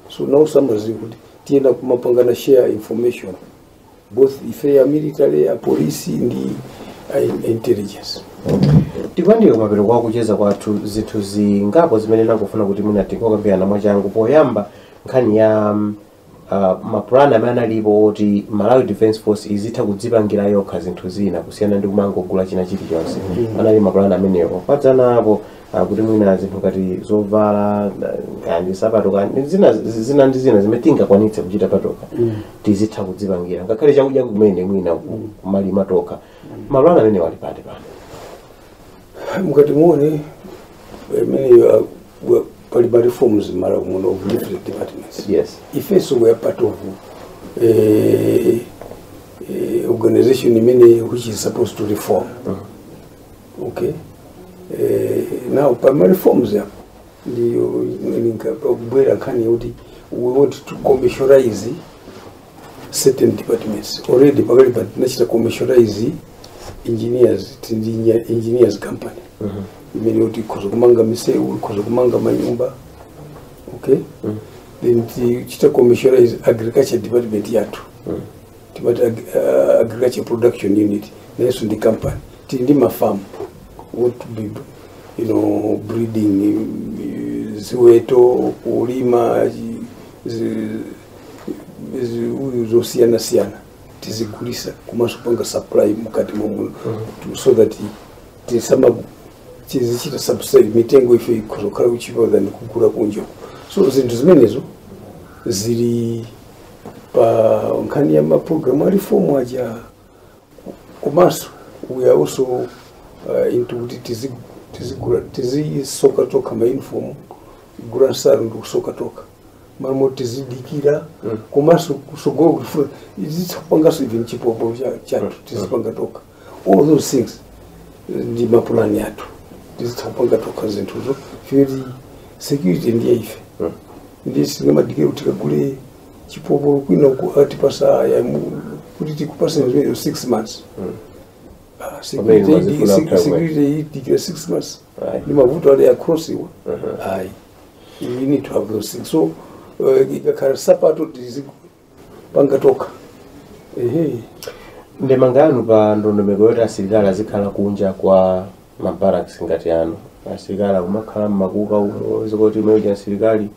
so now amadziwa kuti tiyenera kumapangana share information both ife ya military ya polisi ndi a in- intelligence tikuyandikira mapeto a kucheza kwathu zinthu zingapo zimene ndikufuna kuti mwina tingokambirana mwachangu poyamba nkhani ya mm, uh, mapulani amene analipo oti malawi defense force izitha kudzipangira yokha zinthu zina kusiyana ndi kumangogula china chilichonse anali mapulani amenewo padzana apo ah, kuti mwina zinthu ngati zovala na- kaya ndi sapato kaya ndi zina zina ndi zina zimene tingakwanitse kuchita patokha tizitha kudzipangira ngakhale chakudya kumene mwina ku- kumalima tokha mapulani amenewo ali pati pano mukationa mmenemo pali ma reforms m'Malawi muno of different departments yes ifenso we are part of eh, eh, organization imene which is supposed to reform okay eh, now pama reforms apo ndi pakubwera nkhani yoti we want to commercialize certain departments already pakali pano tinachita commercialize engineers tili ndi engi- engineers company imene yoti ikhoza kumanga misewu ikhoza kumanga manyumba okay then tinachita commercialize agriculture department yathu timati ag- uh, agriculture production unit nayenso ndi company tili ndi mafamu we'll be you know breeding mm, ziweto kulima zi- zi- zi- uyu zosiyana siyana tizigulisa komanso kupanga supply mukati momwe so that tisama tizichita subsidy mitengo ife ikuzakhala kuchipa than kugula kunja so zinthu zimenezo zili pa nkhani ya maprogramu a reform aja komanso we are also uh, into kuti tizi- tizigula- tizisoka tokha mauniform kugula nsalu ndi kusoka tokha malimoti tizidikira komanso kusogolo tikufuna tizitha kupanganso even chipopo cha- chathu tizipanga tokha all those things ndi mapulani athu tizitha kupanga tokha zinthuzo poti security ndiye ife nde sitingamadikire kuti tikagule chipopolo kwina uko atipasa aya mu- kuti tikupasa zimene six months Ah, Pamene security mwazifuna idi- mtagwe. security idikira six months Right. ndi mavuto ali across iwa ayi you need to have those things so uh, ikakhala sapato tizi- panga tokha ehe ndemanga yanu pa ndondomeko yoti asilikali azikhala kunja kwa mabaraks ngati ano asilikali akumakhala mmakuka umo zikumati image ya asilikali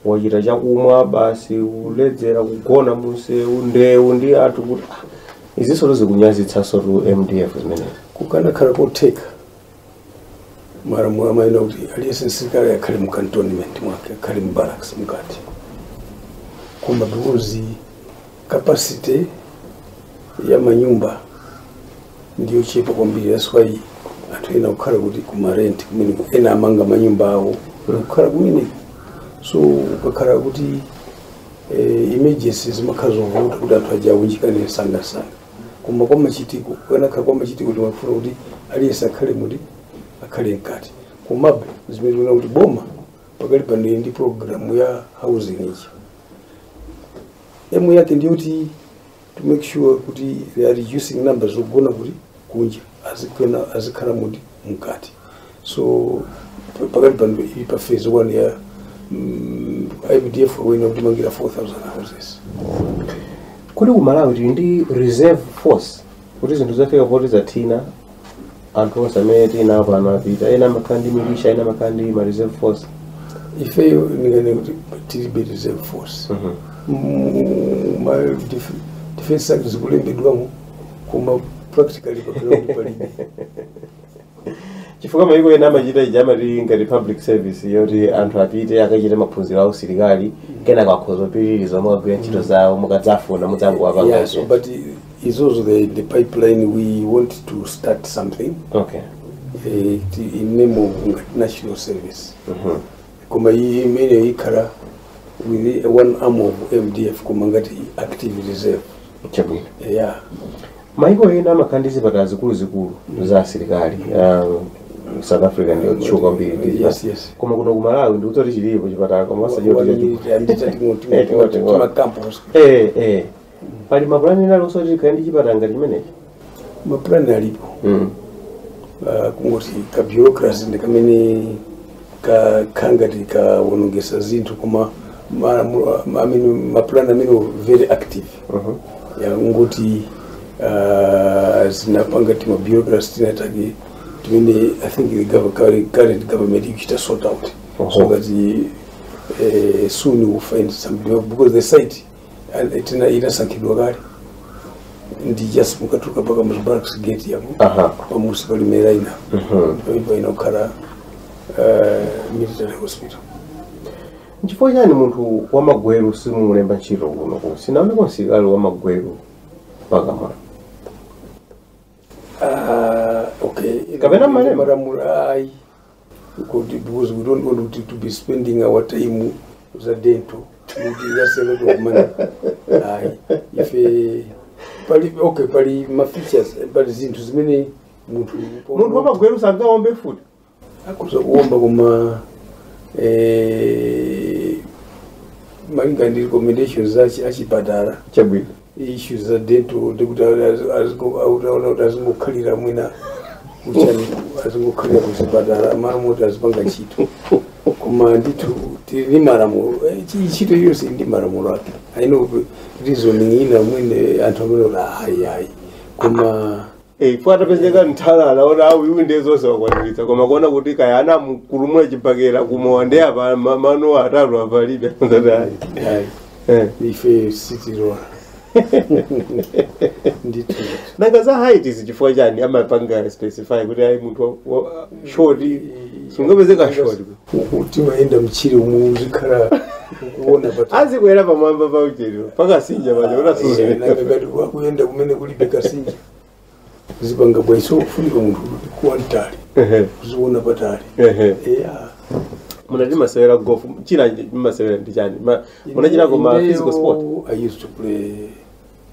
wachita chakumwa basi kuledzera kugona munsewu ndewu ndi anthu kuti ah, izinso zikunyazitsansotu mdf zimenezi kukanakhala kotheka malamulo amayenera kuti aliyense msilikali akhale mu cantonment mwake akhale mu barracks mkati koma because capacity ya manyumba ndiyochepa kwambiri that's why anthu ena kukhala kuti kumarenti kumene ena amanga manyumba awo kukhala kumene so ukakhala kuti eh, emergency zimakhala zovuta kuti anthu aja awunjikane msangamsanga koma kwa machitiko kukanakhala kwa machitiko timafuna kuti aliyense akhale muti akhale mkati komabe zimene tikuona kuti boma pakalipano ili ndi programu ya housing ija aim yake ndiyo kuti to make sure kuti they are reducing numbers zogona kuti kunja azikhala azikhala muti mkati so pa- pakalipano ili pa phase one ya mm, ipdf where akutimangira 4000 houses kodi ku malawi tili ndi reserve force kuti zinthu zafika poti zathina anthu onse amene tinawo pano anapita ena amakhala ndi milisha ena amakhala ndi ma reserve force ifeyo ndinganene kuti tilibe reserve force Mu- ma def- defense act zikulembedwamo koma practically papela kuti palibe chifukwa mayiko ena amachita ija amati ngati public service yoti anthu apite akachite maphunziro a usilikali kenako akhoza kupitiriza mukagwira ntchito zawo mukadzafuna Yeah, mudzangowapezanso but i- it's also the, the pipeline we want to start something okay uh, in name of national service. Mhm. koma iyi imene ikhala with one arm of mdf koma ngati active reserve chabwino yeah. mayiko ena amakhala ndi zipatala zikuluzikulu za asilikali Ah, south africa ndiyotchuka kwambiri ndi Yes, yes. koma kuno ku malawi ndikuti kuti chilipo chipatala koma osati chotchuka Wani- andita tingoti- Eh, tingoti- tingoti- makampu. eh eh pali mapulani ena aliwonse oti tikhale ndi chipatala ngati chimenechi mapulani alipo mm. uh, kungoti ka bureaucracy ndi kamene kakhala ngati kaonongetsa zinthu koma ma- ma- ma- amene mapulani amene very active Mhm. ya kungoti uh, zinapanga tima bureaucracy tinatake time i think the gov- current- current government ikuchita sort out so Oho. that eh, soon we will find some because the site And tena inasankhidwa kale ndi just mukatuka pa kamuzu barracks gate yapo Aha. pamunsi pali malo ena ndi pomwe idzakhale uh, military hospital nchifukwa chiyani munthu wamagweru simumulemba ntchito kuno kuno sindinaoneko msilikali wamagweru pakamwa Ah, okay Kapena mumalemba? malamulo ayi kuti because we don't want to, to be spending our time pa za dental kuti that's a lot of money ayi ife pali okay pali ma features pali zinthu zimene munthu munthu wamagweru sangaombe mfuti akhoza kuomba koma eh, malinga ndi recommendations za chi- achipatala chabwino issues za dental ndi kuti timaona kuti azingokhalira mwina uchani azingokhalira kuzipatala m'malo moti azipanga ntchito koma ndithu tili ndi malamulo Eh, chi- ntchito yonse ili ndi malamulo ake i know reasoning ina mwina anthu amanena kuti ayi ayi koma Eh, poti atapezeka wamtali aona kuti uyu ndiye zonse wakwaniritsa koma kuona kuti kaya anamugumula chibakera kumowa ndi apa ma- mano atatu apalibe Ndati, ayi, ayi. Eh. ife sitilola ndithu nanga za height izi chifukwa chiyani amapanga specify kuti ayi munthu wa- wa- short sungapezeka short timayenda mtchire umu uzikhala ukuona pati uzikwera pamwamba pa ulonda pansanja paja uzisuzumira ngati wakuyenda kumene kulibe kasinja zipanga bwanji so kufunika munthu ukhale wamtali uziona patali eya munati mumasewera golf china mumasewera ndi chiyani Ma- munachitako ma Ineyo, physical sport i used to play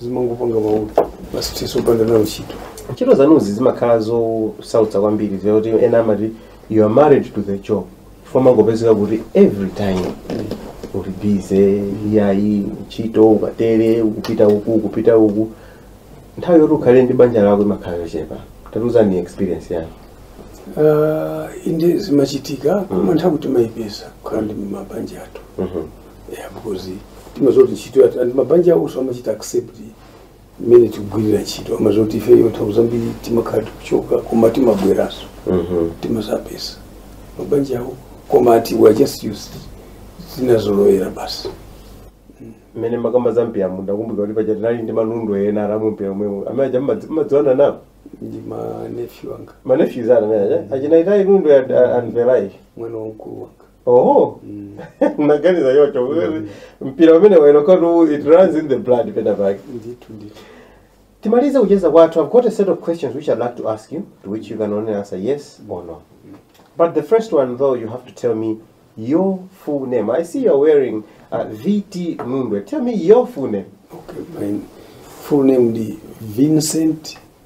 zimangopanga maulu basi tiso upande nawo ntchito ntchito zanuzi zimakhala zosautsa kwambiri zoti ena amati you are married to the job chifukwa mangopezeka kuti every time uli busy iyayi ntchito ukatere ukupita uku ukupita uku nthawi yoti ukhale ndi banja lako imakhala yochepa tatiuzani experience yanu Ah, inde zimachitika koma nthawi timayipeza kukhala ndi mabanja athu Mhm. yeah, because timaziwa kuti ntchito yathu and mabanja awonso amachita accept mmene tikugwirira ntchito amaziwa kuti ifeyo nthawi zambiri timakhala tikuchoka koma timabweranso timazapeza mabanja awo koma ati we are just used tinazolowera basi mmene mumakamba za mpiramu ndakumbuka kuti paja tinali ndi ma Nundwe ena ali mu mpira omwewo amene aja mmadzi- mmadziwana nawo ndi ma nephew anga ma nephews ana amene aja achina Itai Nundwe ya anvelai mwana wa mkulu wanga oho Mm. unaganiza yocho mpira umene waeloka tu it runs in the blood pena pake ndithu ndithu timalize kucheza kwathu i've got a set of questions which i'd like to ask you to which you can only answer yes or no but the first one though you have to tell me your full name i see you're wearing uh, vt mundwe tell me your full name okay my full name ndi vincent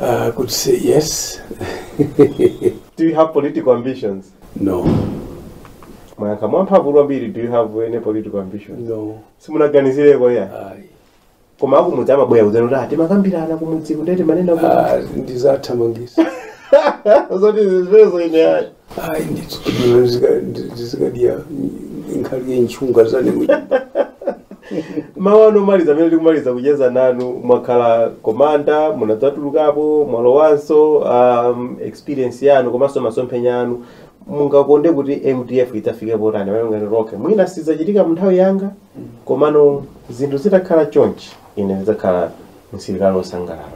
Uh, I could say yes. do you have political ambitions? No. Mwayankha mwamphamvu kwambiri, do you have any political ambitions? No. Simunaganizireko ya? Ayi. Koma akumudzi amabwera kudzera kuti atimakambirana kumudziku nde timanena kuti. Ah, ndizathamangisa. Zoti zimenezo ine ayi. ayi ndi tsono ndizikadya nkhalye ntchunga zane mawu anu omaliza amene tikumaliza kucheza nanu mwakhala komanda munadzatulukapo mwalowanso um, experience yanu komanso masomphenya anu mungakonde kuti mdf idzafike potani pamene mungati okay mwina sizachitika mu nthawi yanga komano zinthu zitakhala chonchi ine ndidzakhala msilikali wosangalala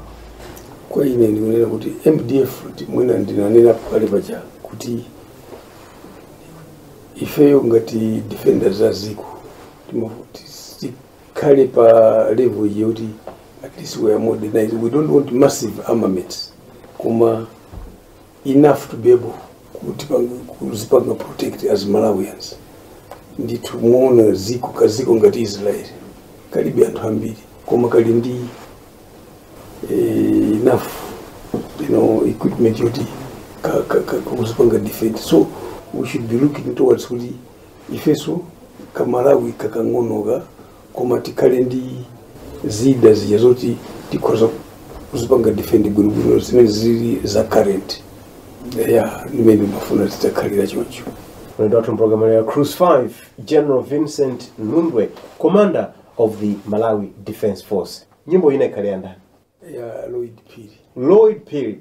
kwa ine ndikunena kuti mdf ti- mwina ndinanena pakale paja kuti ifeyo ngati defenders a ziko timafuna kuti tikhale pa level iyi yoti at least we are modernized we don't want massive armaments koma enough to be able kuti pang- kuzipanga protect as malawians ndithu muona ziko kaziko ngati israel kalibe anthu ambiri koma kali ndi eh, enough you know equipment yoti ka- ka- ka- kuzipanga defend so we should be looking towards kuti ifeso kamalawi kakang'onoka koma tikhale ndi zida zija zoti tikhoza kuzipanga defend bwinobwino zimene zili za current ya ndimene ndimafuna zitakhalira choncho Mlendo wathu mpulogalamu ya Cruise 5, General Vincent Nundwe, Commander of the Malawi Defense Force. Nyimbo ina ikhale ya ndani? ya Lloyd Phiri Lloyd Phiri.